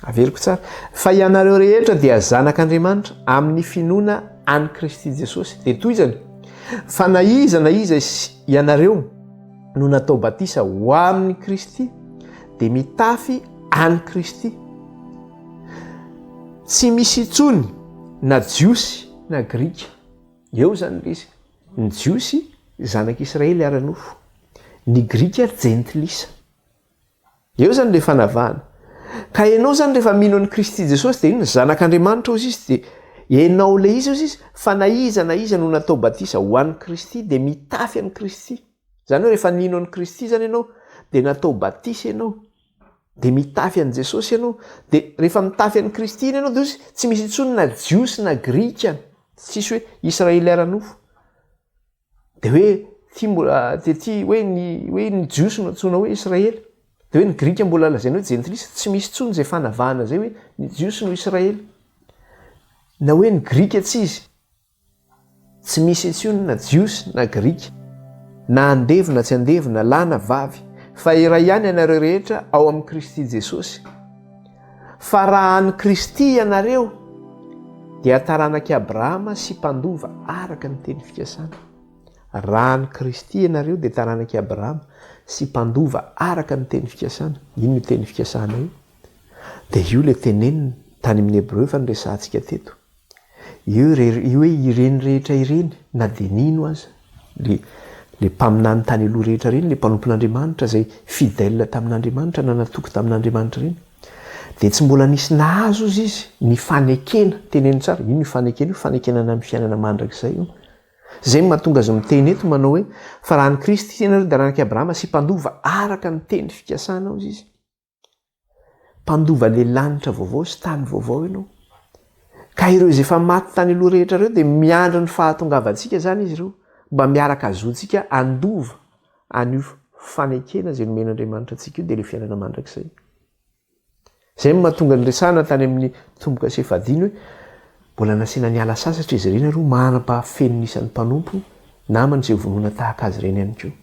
Averiko tsara, fa ianareo rehetra dia zanak'Andriamanitra, amin'ny finoana an'i Kristy Jesosy. Dia toizany, fa na iza na iza ianareo, no natao batisa ho amin'i Kristy dia mitafy an'i Kristy. Tsy misy intsony na Jiosy na Grika. Eo izany ilay izy. Ny Jiosy zanak'Israely ara-nofo, ny Grika jentilisa. Eo zany le fanavahana. Ka enao zany refa mino an'i Kristy Jesosy de inona? Zanak'Andriamanitra ozy izy de enao le izy ozy izy fa na iza na iza no natao batisa ho an'i Kristy de mitafy an'i Kristy. Zany hoe refa nino an'i Kristy zany enao de natao batisa enao de mitafy an'i Jesosy enao de refa mitafy an'i Kristy iny enao de ozy tsy misy intsony na Jiosy na Grika tsisy hoe Israely ara-nofo. Dia hoe ity mbola dia ity hoe ny hoe ny Jiosy no antsoina hoe Israely. Dia hoe ny Grika mbola lazaina hoe jentilisa, tsy misy intsony izay fanavahana izay hoe ny Jiosy no Israely. Na hoe ny Grika tsy izy. Tsy misy intsony na Jiosy na Grika. Na andevo na tsy andevo, na lahy na vavy, fa iray ihany ianareo rehetra ao amin'i Kristy Jesosy. Fa raha an'i Kristy ianareo, dia taranak'i Abrahama sy mpandova araka ny teny fikasana. Raha an'i Kristy ianareo, dia taranak'i Abrahama sy mpandova araka ny teny fikasana. Ino io teny fikasana io? Dia io ilay tenenina tany amin'ny Hebreo efa noresahantsika teto. Io hoe ireny rehetra ireny, na dia nino aza, ilay ilay mpaminany tany aloha rehetra ireny, ilay mpanompon'Andriamanitra izay fidèle tamin'Andriamanitra, nanatoko tamin'Andriamanitra ireny, dia tsy mbola nisy nahazo hozy izy ny fanekena, teneno tsara, io no fanekena io, fanekena ny amin'ny fiainana mandrakizay io. Izay no mahatonga azy miteny eto manao hoe, fa raha an'i Kristy ianareo dia ranaky Abrahama sy mpandova araka ny teny fikasana hozy izy. Mpandova ilay lanitra vaovao sy tany vaovao ianao. Ka ireo izay efa maty tany aloha rehetra ireo dia miandry ny fahatongavantsika izany izy ireo mba miaraka hazoantsika handova an'io fanekena izay nomen'Andriamanitra antsika io dia ilay fiainana mandrakizay. Izay no mahatonga ny resahana tany amin'ny tombo-kase fahadimy hoe mbola nasiana niala sasatra izy ireny ary manam-pahafeno ny isan'ny mpanompo namany izay vonona tahaka azy ireny ihany koa.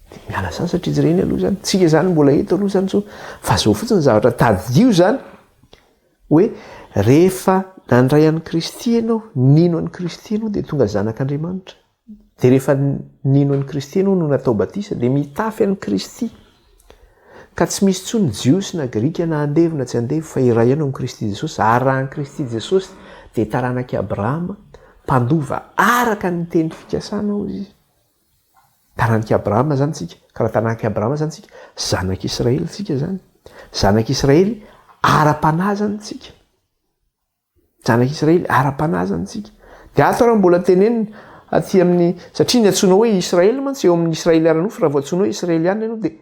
Dia miala sasatra izy ireny aloha izany. Tsika izany mbola eto aloha izany intsony. Vazoho fotsiny ny zavatra tadidio izany hoe rehefa nandray an'i Kristy ianao, nino an'i Kristy ianao dia tonga zanak'Andriamanitra. Dia rehefa nino an'i Kristy ianao no natao batisa dia mitafy an'i Kristy. Ka tsy misy intsony Jiosy na Grika na andevo na tsy andevo fa iray ihany ao amin'i Kristy Jesosy. Ary raha an'i Kristy Jesosy dia taranak'i Abrahama, mpandova araka ny teny fikasana hozy izy. Taranak'i Abrahama izany isika. Ka raha taranak'i Abrahama izany isika, zanak'i Israely isika izany. Zanak'i Israely ara-panahy izany isika. Zanak'i Israely ara-panahy izany isika. Dia ato raha mbola tenenina aty amin'ny satria ny antsoina hoe Israely mantsy eo amin'ny Israely ara-nofo raha vao antsoina hoe Israeliana ianao dia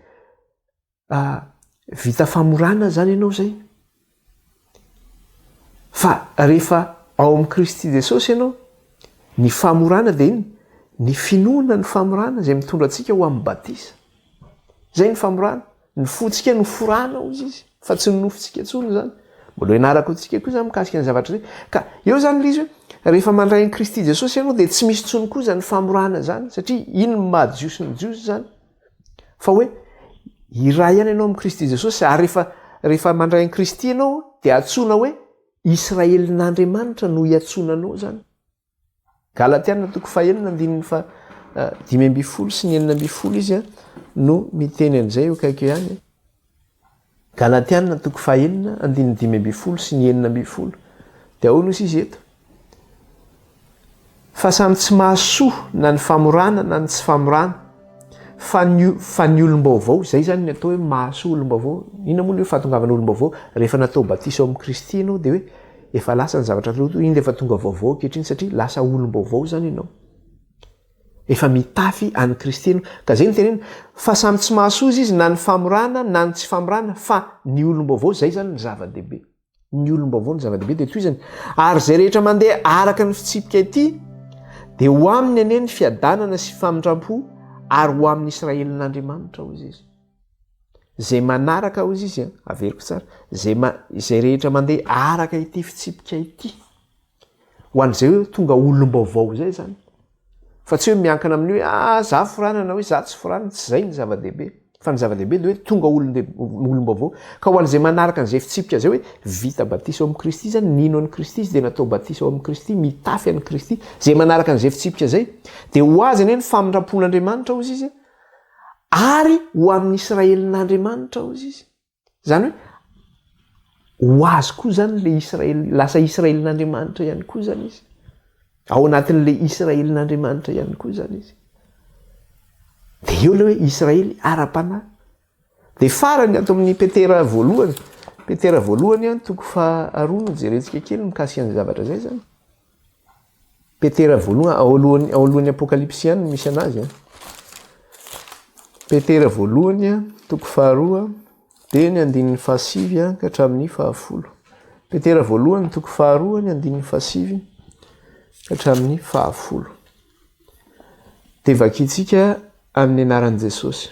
Mba vita famorana zany ianao zay. Fa rehefa ao amin'i Kristy Jesosy ianao, ny famorana dia inona? Ny finoana ny famorana izay mitondra antsika ho amin'ny batisa. Zay ny famorana. Ny fontsika no forana hoy izy fa tsy ny nofontsika intsony zany. Mbola ianarako antsika koa zany mikasika ny zavatra zay. Ka eo zany ilay izy hoe rehefa mandray an'i Kristy Jesosy ianao dia tsy misy intsony koa zany famorana zany satria iny no maha Jiosy ny Jiosy zany. fa hoe iray ihany ianao amin'i kristy jesosy ary rehefa rehefa mandray an'i kristy ianao dia antsoina hoe israelin'andriamanitra no hiantsoana anao zany galatiana toko fahenina andininy fa eh, dimy amby folo sy ny enina amby folo izy a eh, no miteny an'izay eo kaiky ihany eh. Galatiana toko fahenina andininy dimy ambin'ny folo sy ny enina ambin'ny folo dia ahoana hozy izy eto? Fa samy tsy mahasoa na ny famorana na ny tsy famorana fa ny fa ny olom-baovao izay izany ny atao hoe mahasoa olom-baovao inona moa ny hoe fahatongavana olom-baovao rehefa natao batisa ao amin'ny Kristy ianao dia hoe efa lasa ny zavatra taloha toa inona efa tonga vaovao ankehitriny satria lasa olom-baovao izany ianao Efa mitafy an'i Kristy ianao. Ka izay no tenenina, fa samy tsy mahasoa izy izy na ny famorana na ny tsy famorana, fa ny olom-baovao, izay izany ny zava-dehibe. Ny olom-baovao no zava-dehibe, dia toy izany. Ary izay rehetra mandeha araka ny fitsipika ity, dia ho aminy anie ny fiadanana sy famindram-po, ary ho amin'ny Israelin'Andriamanitra, hoy Izy. Izay manaraka, hoy Izy, averiko tsara, izay, izay rehetra mandeha araka ity fitsipika ity. Ho an'izay hoe tonga olom-baovao izay izany. Fa tsy hoe miankina amin'ny hoe ah za forana na hoe za tsy forana, tsy izay ny zava-dehibe. Fa ny zava-dehibe dia hoe tonga olom-baovao. Ka ho an'izay manaraka an'izay fitsipika izay hoe vita batisa ao amin'i Kristy izany, nino an'i Kristy izy dia natao batisa ao amin'i Kristy, mitafy an'i Kristy, izay manaraka an'izay fitsipika izay, dia ho azy anie ny famindram-pon'Andriamanitra, hozy izy, ary ho amin'ny Israelin'Andriamanitra, hozy izy. Zany hoe ho azy koa zany le Israel, lasa Israelin'Andriamanitra ihany koa zany izy. Ao anatin'le Israelin'Andriamanitra ihany koa zany izy. De eo le hoe Israely ara-panahy. De farany ato amin'ny Petera voalohany, Petera voalohany an, toko faharoa no jerentsika kely mikasika ny zavatra zay zany. Petera voaloha, ao alohan'ny, ao alohan'ny apokalypsy ihany no misy anazy an. Petera voalohany an, toko faharoa, dia ny andininy fahasivy an, ka hatramin'ny fahafolo. Petera voalohany, toko faharoa, ny andininy fahasivy, ka hatramin'ny fahafolo. Dia vakintsika amin'ny anaran'i Jesosy.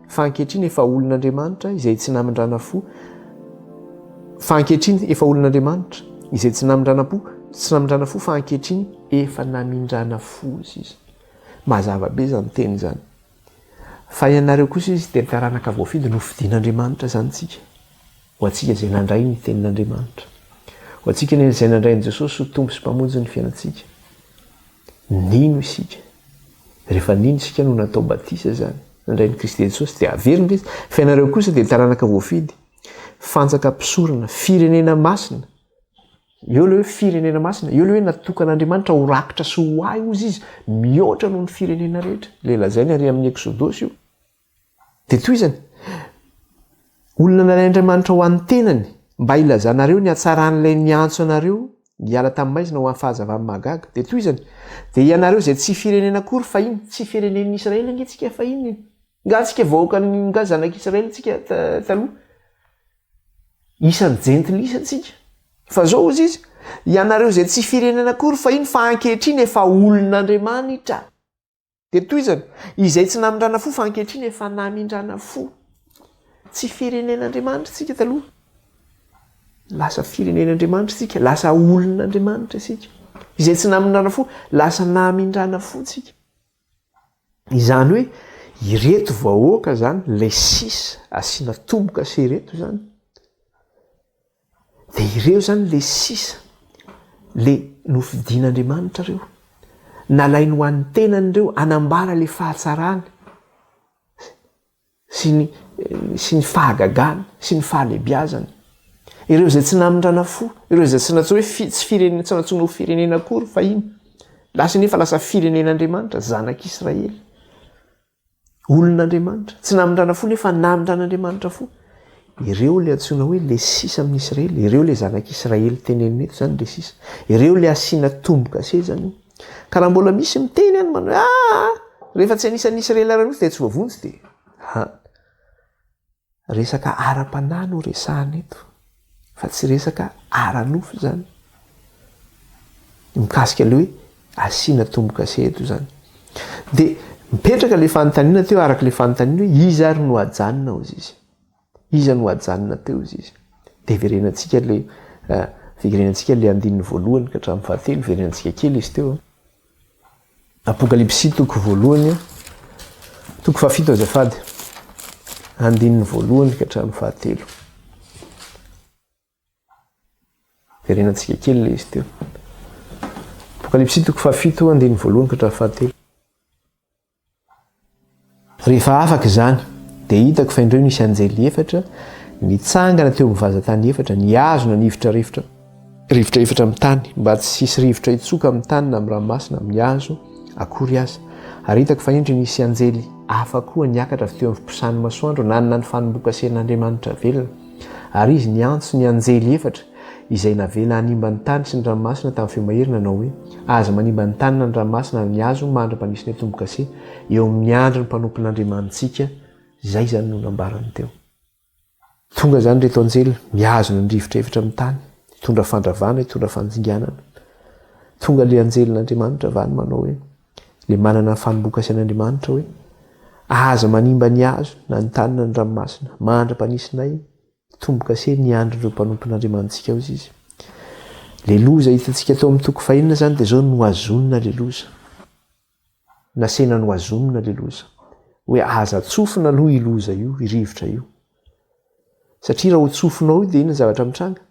Fa ankehitriny efa olon'Andriamanitra izay tsy namindrana-po, fa ankehitriny efa olon'Andriamanitra izay tsy namindrana-po, tsy namindrana-fo, fa ankehitriny efa namindrana-fo, hoy izy. Mazava be izany teny izany. Fa ianareo kosa izy dia ny taranaka voafidy nofidin'Andriamanitra izany tsika. Ho antsika izay nandray ny tenin'Andriamanitra. Ho antsika izay nandray an'i Jesosy ho Tompo sy Mpamonjy ny fiainantsika. Nino isika. Rehefa nino isika no natao batisa izany, nandray an'i Kristy Jesosy, dia haverina Izy, fa ianareo kosa dia taranaka voafidy, fantsaka mpisorona, firenena masina. Eo ilay hoe firenena masina, eo ilay hoe natokan'Andriamanitra ho rakitra sy ho ahy hozy Izy, mihoatra noho ny firenena rehetra. Ilay lazainy ary amin'ny Eksodosy io. Dia tohizany, Olona nalain'Andriamanitra ho an'ny tenany mba hilazanareo ny hatsaran'ilay niantso anareo hiala tamin'ny maizina ho amin'ny fahazavany mahagaga. Dia tohizany, Dia ianareo izay tsy firenena akory fahiny, tsy firenen'ny Israely ange tsika fahiny e! Nga tsika vahoakan'ny, nga zanak'Israely tsika taloha. Isan'ny jentilisa tsika. Fa zao hozy izy, Ianareo izay tsy firenena akory fahiny fa ankehitriny efa olon'Andriamanitra. Dia tohizany, izay tsy namindrana fo fa ankehitriny efa namindrana fo. Tsy firenen'Andriamanitra isika taloha. Lasa firenen'Andriamanitra isika, lasa olon'Andriamanitra isika. Izay tsy namindrana fo, lasa namindrana fo isika. Izany hoe ireto vahoaka izany, ilay sisa asiana tomboka sy ireto izany, Dia ireo izany ilay sisa, ilay nofidin'Andriamanitra ireo, nalainy ho an'ny tenany ireo, hanambara ilay fahatsarany sy ny sy ny fahagagany sy ny fahalehibiazany. Ireo izay tsy namindrana fo, ireo izay tsy nantsoina hoe tsy firenena, tsy nantsoina ho firenena akory fahiny, lasa anefa lasa firenen'Andriamanitra, zanak'Israely. Olon'Andriamanitra. Tsy namindrana fo nefa namindran'Andriamanitra fo. Ireo ilay antsoina hoe ilay sisa amin'ny Isiraely. Ireo ilay zanak'Isiraely tenenina eto izany ilay sisa. Ireo ilay asiana tombo-kase izany. Ka raha mbola misy miteny any manao ah! Rehefa tsy anisan'ny Isiraely ary mihitsy dia tsy voavonjy dia. Resaka ara-panahy no resahana eto fa tsy resaka ara-nofo izany. Mikasika ilay hoe asiana tombo-kase eto izany. Dia mipetraka ilay fanontaniana teo araka ilay fanontaniana hoe iza ary no hajanona hozy izy? Iza no hajanona teo hozy izy? Dia verenantsika ilay, verenantsika ilay andininy voalohany ka hatramin'ny fahatelo, verenantsika kely izy teo. Apokalypsy toko voalohany toko fahafito azafady andininy voalohany ka hatramin'ny fahatelo. Verenantsika kely le izy teo. Apokalypsy toko fahafito andininy voalohany ka hatramin'ny fahatelo. Rehefa afaka izany, dia hitako fa indreo nisy anjely efatra nitsangana teo amin'ny vazan-tany efatra, nihazona ny ivotra rivotra, rivotra efatra amin'ny tany, mba tsy hisy rivotra hitsoka amin'ny tany na amin'ny ranomasina, amin'ny hazo, akory aza. Ary hitako fa indry nisy anjely hafa koa niakatra avy teo amin'ny fiposahan'ny masoandro, nanana ny fanombokasen'Andriamanitra velona. Ary izy niantso ny anjely efatra, Izay navela hanimba ny tany sy ny ranomasina tamin'ny feo mahery nanao hoe, Aza manimba ny tany na ny ranomasina ary ny hazo mandra-panisonay tombo-kase eo amin'ny andron'ny mpanompon'Andriamanitsika Izay izany no nambarany teo. Tonga izany ireto anjely mihazona ny rivotra efatra amin'ny tany, hitondra fandravana, hitondra fandringanana. Tonga ilay anjelin'Andriamanitra avy any manao hoe, ilay manana ny fanombokasen'Andriamanitra hoe, Aza manimba ny hazo na ny tany na ny ranomasina mandra-panisonay Tombo-kase ny andry ireo mpanompon'Andriamanitsika hozy izy. Le loza hitantsika tao amin'ny toko fahenina zany de zao nohazonina le loza. Nasehina nohazonina le loza. Hoe aza tsofina aloha io loza io, io rivotra io. Satria raha ho tsofina ao io de inona zavatra mitranga?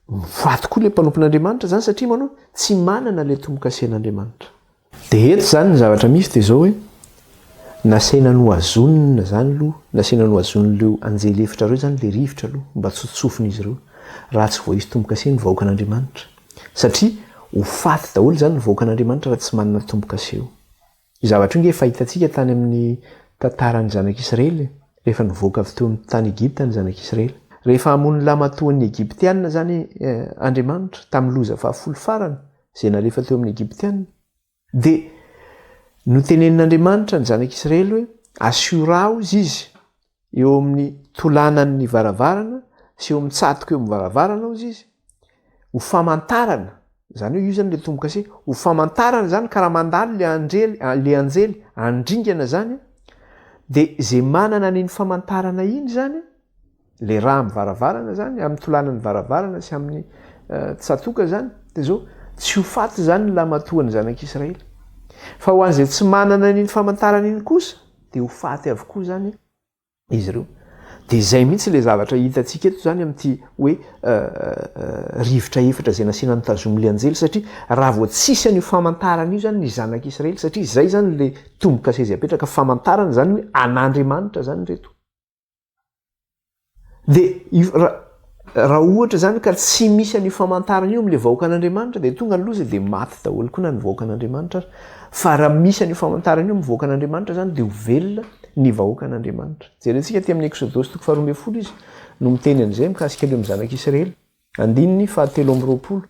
Ho faty koa le mpanompon'Andriamanitra zany satria manao tsy manana le tombo-kasen'Andriamanitra. Dia eto izany ny zavatra misy dia izao hoe, nasaina nohazonina izany aloha, nasaina nohazon'ireo anjely efitra ireo izany ilay rivotra aloha, mba tsy ho tsofin'izy ireo, raha tsy voaisy tombo-kase ny vahoakan'Andriamanitra. Satria ho faty daholo izany ny vahoakan'Andriamanitra raha tsy manana tombo-kase io. Io zavatra io ange efa hitantsika tany amin'ny tantaran'ny zanak'Israely, rehefa nivoaka avy teo amin'ny tany Egypta ny zanak'Israely. Rehefa hamono lamatoan'ny Egyptiana izany Andriamanitra, tamin'ny loza fahafolo farany, izay nalefa teo amin'ny Egyptiana, dia notenenin'Andriamanitra ny zanak'Israely hoe, Asio ra, hozy izy, eo amin'ny tolanan'ny varavarana sy eo amin'ny tsatoka eo amin'ny varavarana, hozy izy, ho famantarana, izany hoe io izany ilay tombo-kase, ho famantarana izany ka raha mandalo ilay anjely, ilay anjely handringana izany dia izay manana an'iny famantarana iny izany, le rà am varavarana zany am tolanany varavarana sy aminy tsatoka zany de zao tsy ho faty zany ny lamatoany zanak Israely fa ho anzay tsy manana aniny famantarana iny kosa de ho faty avokoa zany izy ireo de zay mihitsy le zavatra hitatsika eto zany amty hoe rivotra efatra zay nasiana ny tazomy le anjely satria raha vao tsisy anio famantarana io zany ny zanak Israely satria zay zany le tombo kase zay apetraka famantarana zany hoe anandriamanitra zany reto Dia raha ohatra izany ka tsy misy an'io famantarana io amin'ilay vahoakan'Andriamanitra dia tonga ny loza dia maty daholo koa na ny vahoakan'Andriamanitra aza. Fa raha misy an'io famantarana io amin'ny vahoakan'Andriamanitra izany dia ho velona ny vahoakan'Andriamanitra. Jerentsika aty amin'ny Eksodosy toko faharoa ambin'ny folo izy no miteny an'izay mikasika ireo amin'ny zanak'Israely. Andininy fahatelo amby roapolo.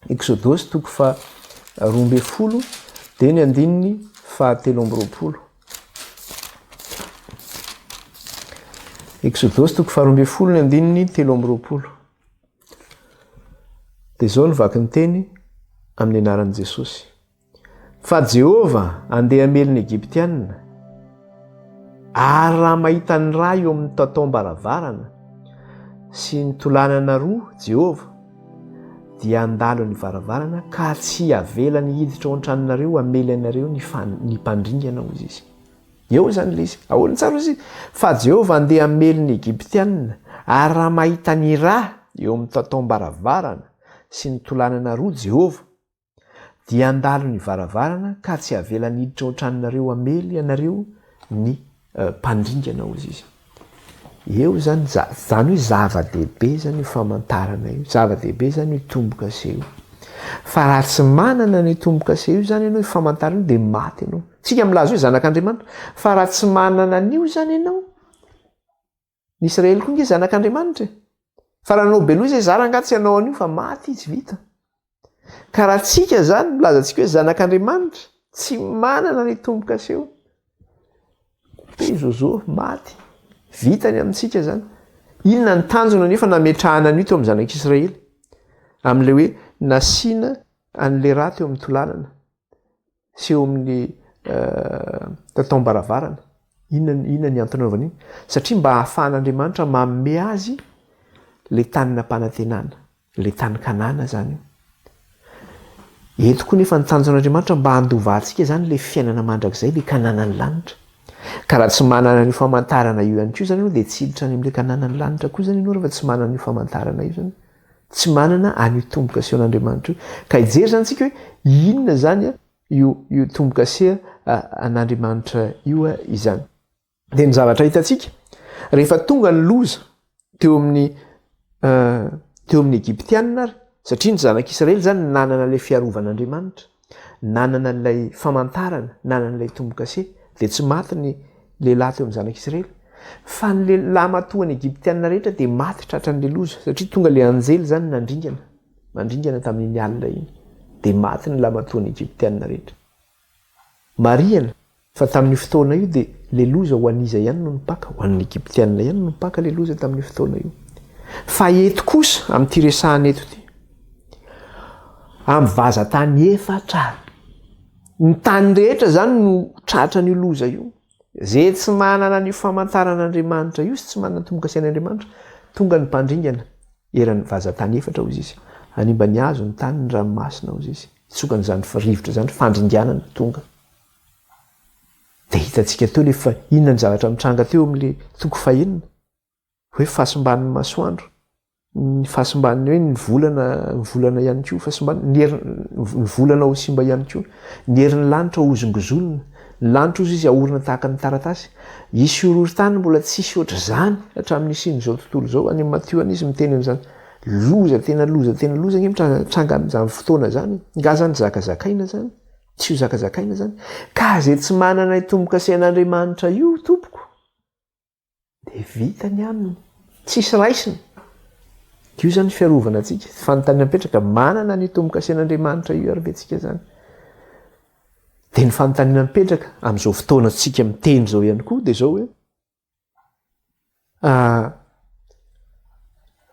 Eksodosy toko faha roa ambin'ny folo dia ny andininy fahatelo amby roapolo. Eksodosy toko faha roa ambin'ny folo ny andininy telo amby roapolo. Dia izao ny vaky ny teny amin'ny anaran'i Jesosy. Fa Jehovah handeha hamely ny Egyptianina, ary raha mahita ny ra eo amin'ny tataom-baravarana sy ny tolanana roa Jehovah, dia handalo ny varavarana ka tsy havelany hiditra ao an-tranonareo hamely anareo ny ny mpandringana, hoy izy. Eo izany ilay izy. Ahoana tsara hoy izy? Fa Jehovah handeha hamely ny Egyptianina, ary raha mahita ny ra eo amin'ny tataom-baravarana sy ny tolanana roa Jehovah, dia handalo ny varavarana ka tsy havelany hiditra ao tranonareo hamely ianareo ny mpandringana ozy izy eo zany za zany hoe zava-dehibe zany io famantarana io zava-dehibe zany io tombo-kase io fa raha tsy manana ny tombo-kase io zany ianao famantarana io dia maty ianao tsika milaza hoe zanak'andriamanitra fa raha tsy manana an'io zany ianao Ny Israely koa nge zanak'Andriamanitra e. Fa raha nanao beloha izay zara angaha tsy hanao an'io fa maty izy vita. Ka raha tsika zany milaza antsika hoe zanak'Andriamanitra tsy manana ny tombo-kaseo. Dia zozo maty. Vita ny amintsika zany. Inona ny tanjona nefa nametrahana an'io teo amin'ny zanak'Israely? Amin'ilay hoe nasiana an'ilay rà teo amin'ny tolanana. Tsy eo amin'ny taom-baravarana. Inona ny antony anaovany iny? Satria mba hahafahan'Andriamanitra manome azy ilay tany nampanantenana, ilay tany Kanana izany io. Eto koa nefa ny tanjon'Andriamanitra mba handovantsika izany ilay fiainana mandrakizay, ilay Kananan'ny lanitra. Ka raha tsy manana an'io famantarana io ihany koa izany ianao dia tsy hiditra any amin'ilay Kananan'ny lanitra koa izany ianao rehefa tsy manana io famantarana io izany. tsy manana an'io tombo-kase an' Andriamanitra io. Ka hijery izany isika hoe inona izany io io tombo-kase an' Andriamanitra io izany. Dia ny zavatra hitantsika, rehefa tonga ny loza teo amin'ny teo amin'ny Egyptiana ary, satria ny Zanak'Israely izany nanana ilay fiarovan' Andriamanitra, nanana an'ilay famantarana, nanana ilay tombo-kase, dia tsy maty ny lehilahy teo amin'ny zanak'Israely. Fa ny lehilahy matoa ny Egyptiana rehetra dia maty tratran'ilay loza, satria tonga ilay anjely izany nandringana, nandringana tamin'iny alina iny, dia maty ny lahy matoa ny Egyptiana rehetra. Marihana. Fa tamin'io fotoana io dia le loza ho an'iza ihany no nipaka? Ho an'ny Egyptiana ihany no nipaka le loza tamin'io fotoana io. Fa eto kosa amin'ity resahana eto ity, amin'ny vazan-tany efatra, ny tany rehetra izany no tratra an'io loza io. Ze tsy manana an'io famantaran'Andriamanitra io sy tsy manana ny tombo-kasian' Andriamanitra, tonga ny mpandringana eran'ny vazan-tany efatra, hoy izy. Hanimba ny hazo, ny tany, ny ranomasina, hoy izy. Hitsoka an'izany rivotra izany fandringanana tonga. Dia hitantsika teo ilay fa inona ny zavatra nitranga teo amin'ilay toko fahenina, hoe fahasimban'ny masoandro, ny fahasimban'ny hoe ny volana, ny volana ihany koa fahasimban'ny, ny herin, ny volana ho simba ihany koa, ny herin'ny lanitra hozongozonina, ny lanitra hozy izy ahorona tahaka ny taratasy. Hisy horohorontany mbola tsy hisy ohatr'izany hatramin'ny hisian'izao tontolo izao, any amin'ny Matio any izy miteny an'izany. Loza tena loza tena loza ange mitranga mitranga amin'izany fotoana izany e! Nga zany zaka zakaina zany? Tsy ho zakazakaina izany. Ka izay tsy manana io tombo-kasen'Andriamanitra io, tompoko, dia vita ny aminy. Tsisy raisina. Io izany fiarovana antsika. Fanontaniana mipetraka, manana ny tombo-kasen'Andriamanitra io ary ve tsika izany? Dia ny fanontaniana mipetraka amin'izao fotoana tsika miteny izao ihany koa dia izao hoe,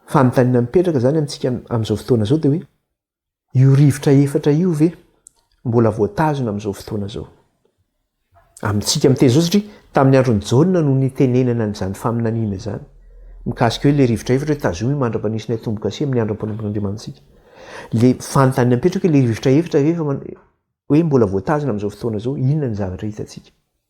Fanontaniana mipetraka izany amintsika amin'izao fotoana izao dia hoe, io rivotra efatra io ve mbola voatazona amin'izao fotoana izao? Amintsika miteny izao satria tamin'ny andron'i Jaona no nitenenana an'izany faminaniana izany, mikasika hoe ilay rivotra efatra hoe tazomy ny mandra-panisinay tombo-kase amin'ny andro am-panompon-Andriamanitsika. Ilay fanontaniana mipetraka hoe ilay rivotra efatra ve efa hoe mbola voatazona amin'izao fotoana izao? Inona ny zavatra hitantsika?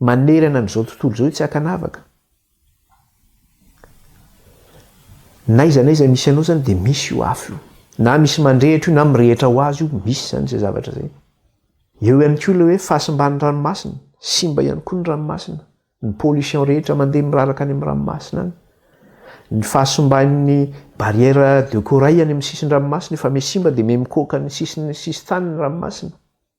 Manerana an'izao tontolo izao io tsy ankanavaka. Na aiza na aiza misy anao izany dia misy io afo io. Na misy mandrehitra io na mirehitra ho azy io, misy izany izay zavatra izay. Eo ihany koa ilay hoe fahasimban'ny ranomasina, simba ihany koa ny ranomasina, ny pollution rehetra mandeha miraraka any amin'ny ranomasina any. Ny fahasimban'ny barrière de corail any amin'ny sisin-dranomasina efa miha simba dia miha mikoaka ny sisin'ny sisin-tany ny ranomasina.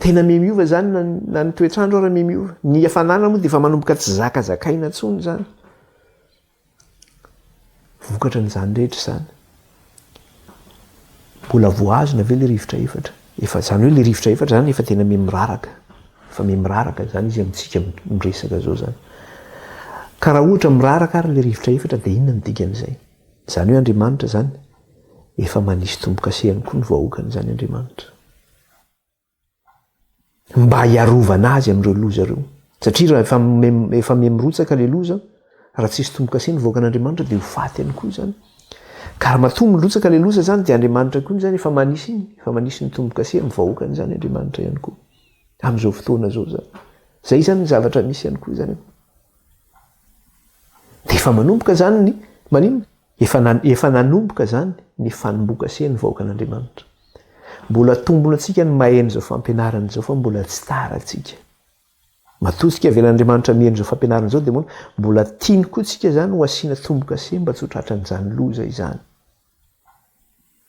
Tena mihamiova izany na ny, na ny toetr'andro ary mihamiova. Ny hafanana moa dia efa manomboka tsy zakazakaina intsony izany. Vokatra an'izany rehetra izany. Mbola voahazona ve ilay rivotra efatra? Efa izany hoe ilay rivotra efatra izany efa tena miha-miraraka. Efa miha-miraraka izany izy amintsika miresaka izao izany. Ka raha ohatra miraraka ary ilay rivotra efatra dia inona no dikan'izay? Izany hoe Andriamanitra izany efa manisy tombo-kase ihany koa ny vahoakany izany Andriamanitra. Mba hiarovana azy amin'ireo loza ireo. Satria raha efa efa miha mirotsaka ilay loza, raha tsisy tombo-kase ny vahoakan'Andriamanitra dia ho faty ihany koa izany. Ka raha matoa mirotsaka ilay loza izany dia Andriamanitra koa izany efa manisy iny, efa manisy ny tombo-kase amin'ny vahoakany izany Andriamanitra ihany koa. Amin'izao fotoana izao izany. Izay izany ny zavatra misy ihany koa izany. Efa manomboka izany ny maninona? Efa, efa nanomboka izany ny fanombokasen'ny vahoakan'Andriamanitra. Mbola atombona antsika ny maheno izao fampianarana izao fa mbola tsy tara antsika. Matoa tsika avelan'Andriamanitra miheno izao fampianarana izao dia moana mbola tiany koa tsika izany ho asiana tombokase mba tsy ho tratran'izany loza izany.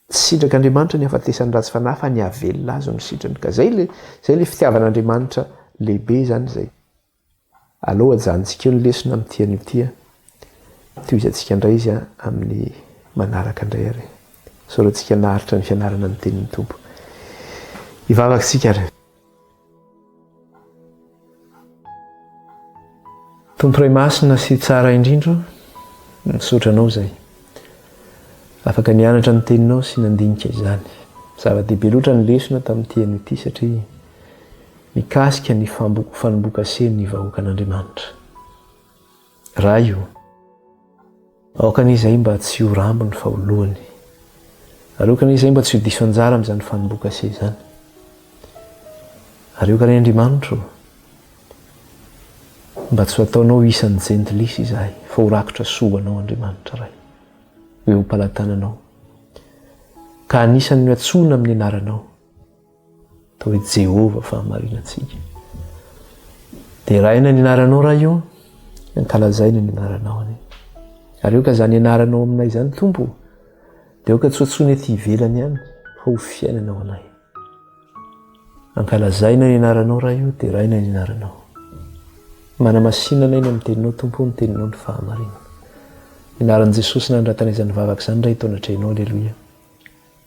Tsy sitrak'Andriamanitra ny hafatesan'ny ratsy fanahy fa ny havelona azy no sitrany. Ka izay le, izay le fitiavan'Andriamanitra lehibe izany izay. Aleo ajanontsika eo ny lesona amin'ity anio ity a! Tohizantsika indray izy amin'ny manaraka indray ary. Isaorantsika naharitra ny fianarana ny Tenin'ny Tompo. Hivavaka isika ary. Tompo Ray Masina sy Tsara indrindra, misaotra Anao izay afaka nianatra ny Teninao sy nandinika izany. Zava-dehibe loatra ny lesona tamin'ity anio ity satria mikasika ny fanombokasen'ny vahoakan'Andriamanitra. Ray o! Aokany izay mba tsy ho rambony fa ho lohany. Ary aokany izay mba tsy ho diso anjara amin'izany fanombokase izany. Ary aokany Andriamanitra o! Mba tsy ho ataonao isan'ny jentilisa izahay fa ho rakotra soa ho anao Andriamanitra Ray. Ho eo am-palatananao. Ka anisan'ny ho antsoina amin'ny anaranao. Toa i Jehovah fahamarinantsika. Deraina ny anaranao Ray ô, ankalazaina ny anaranao anie. Ary aoka izany anaranao aminay izany Tompo, dia aoka tsy hoatsoina ety ivelany ihany fa ho fiainana ao anay. Ankalazaina ny anaranao Ray ô, deraina ny anaranao. Manamasinana eny amin'ny teninao Tompo ny teninao ny fahamarinana. Ny anaran'i Jesosy nandratanay izany vavaka izany Ray tao anatrehanao, aleloia.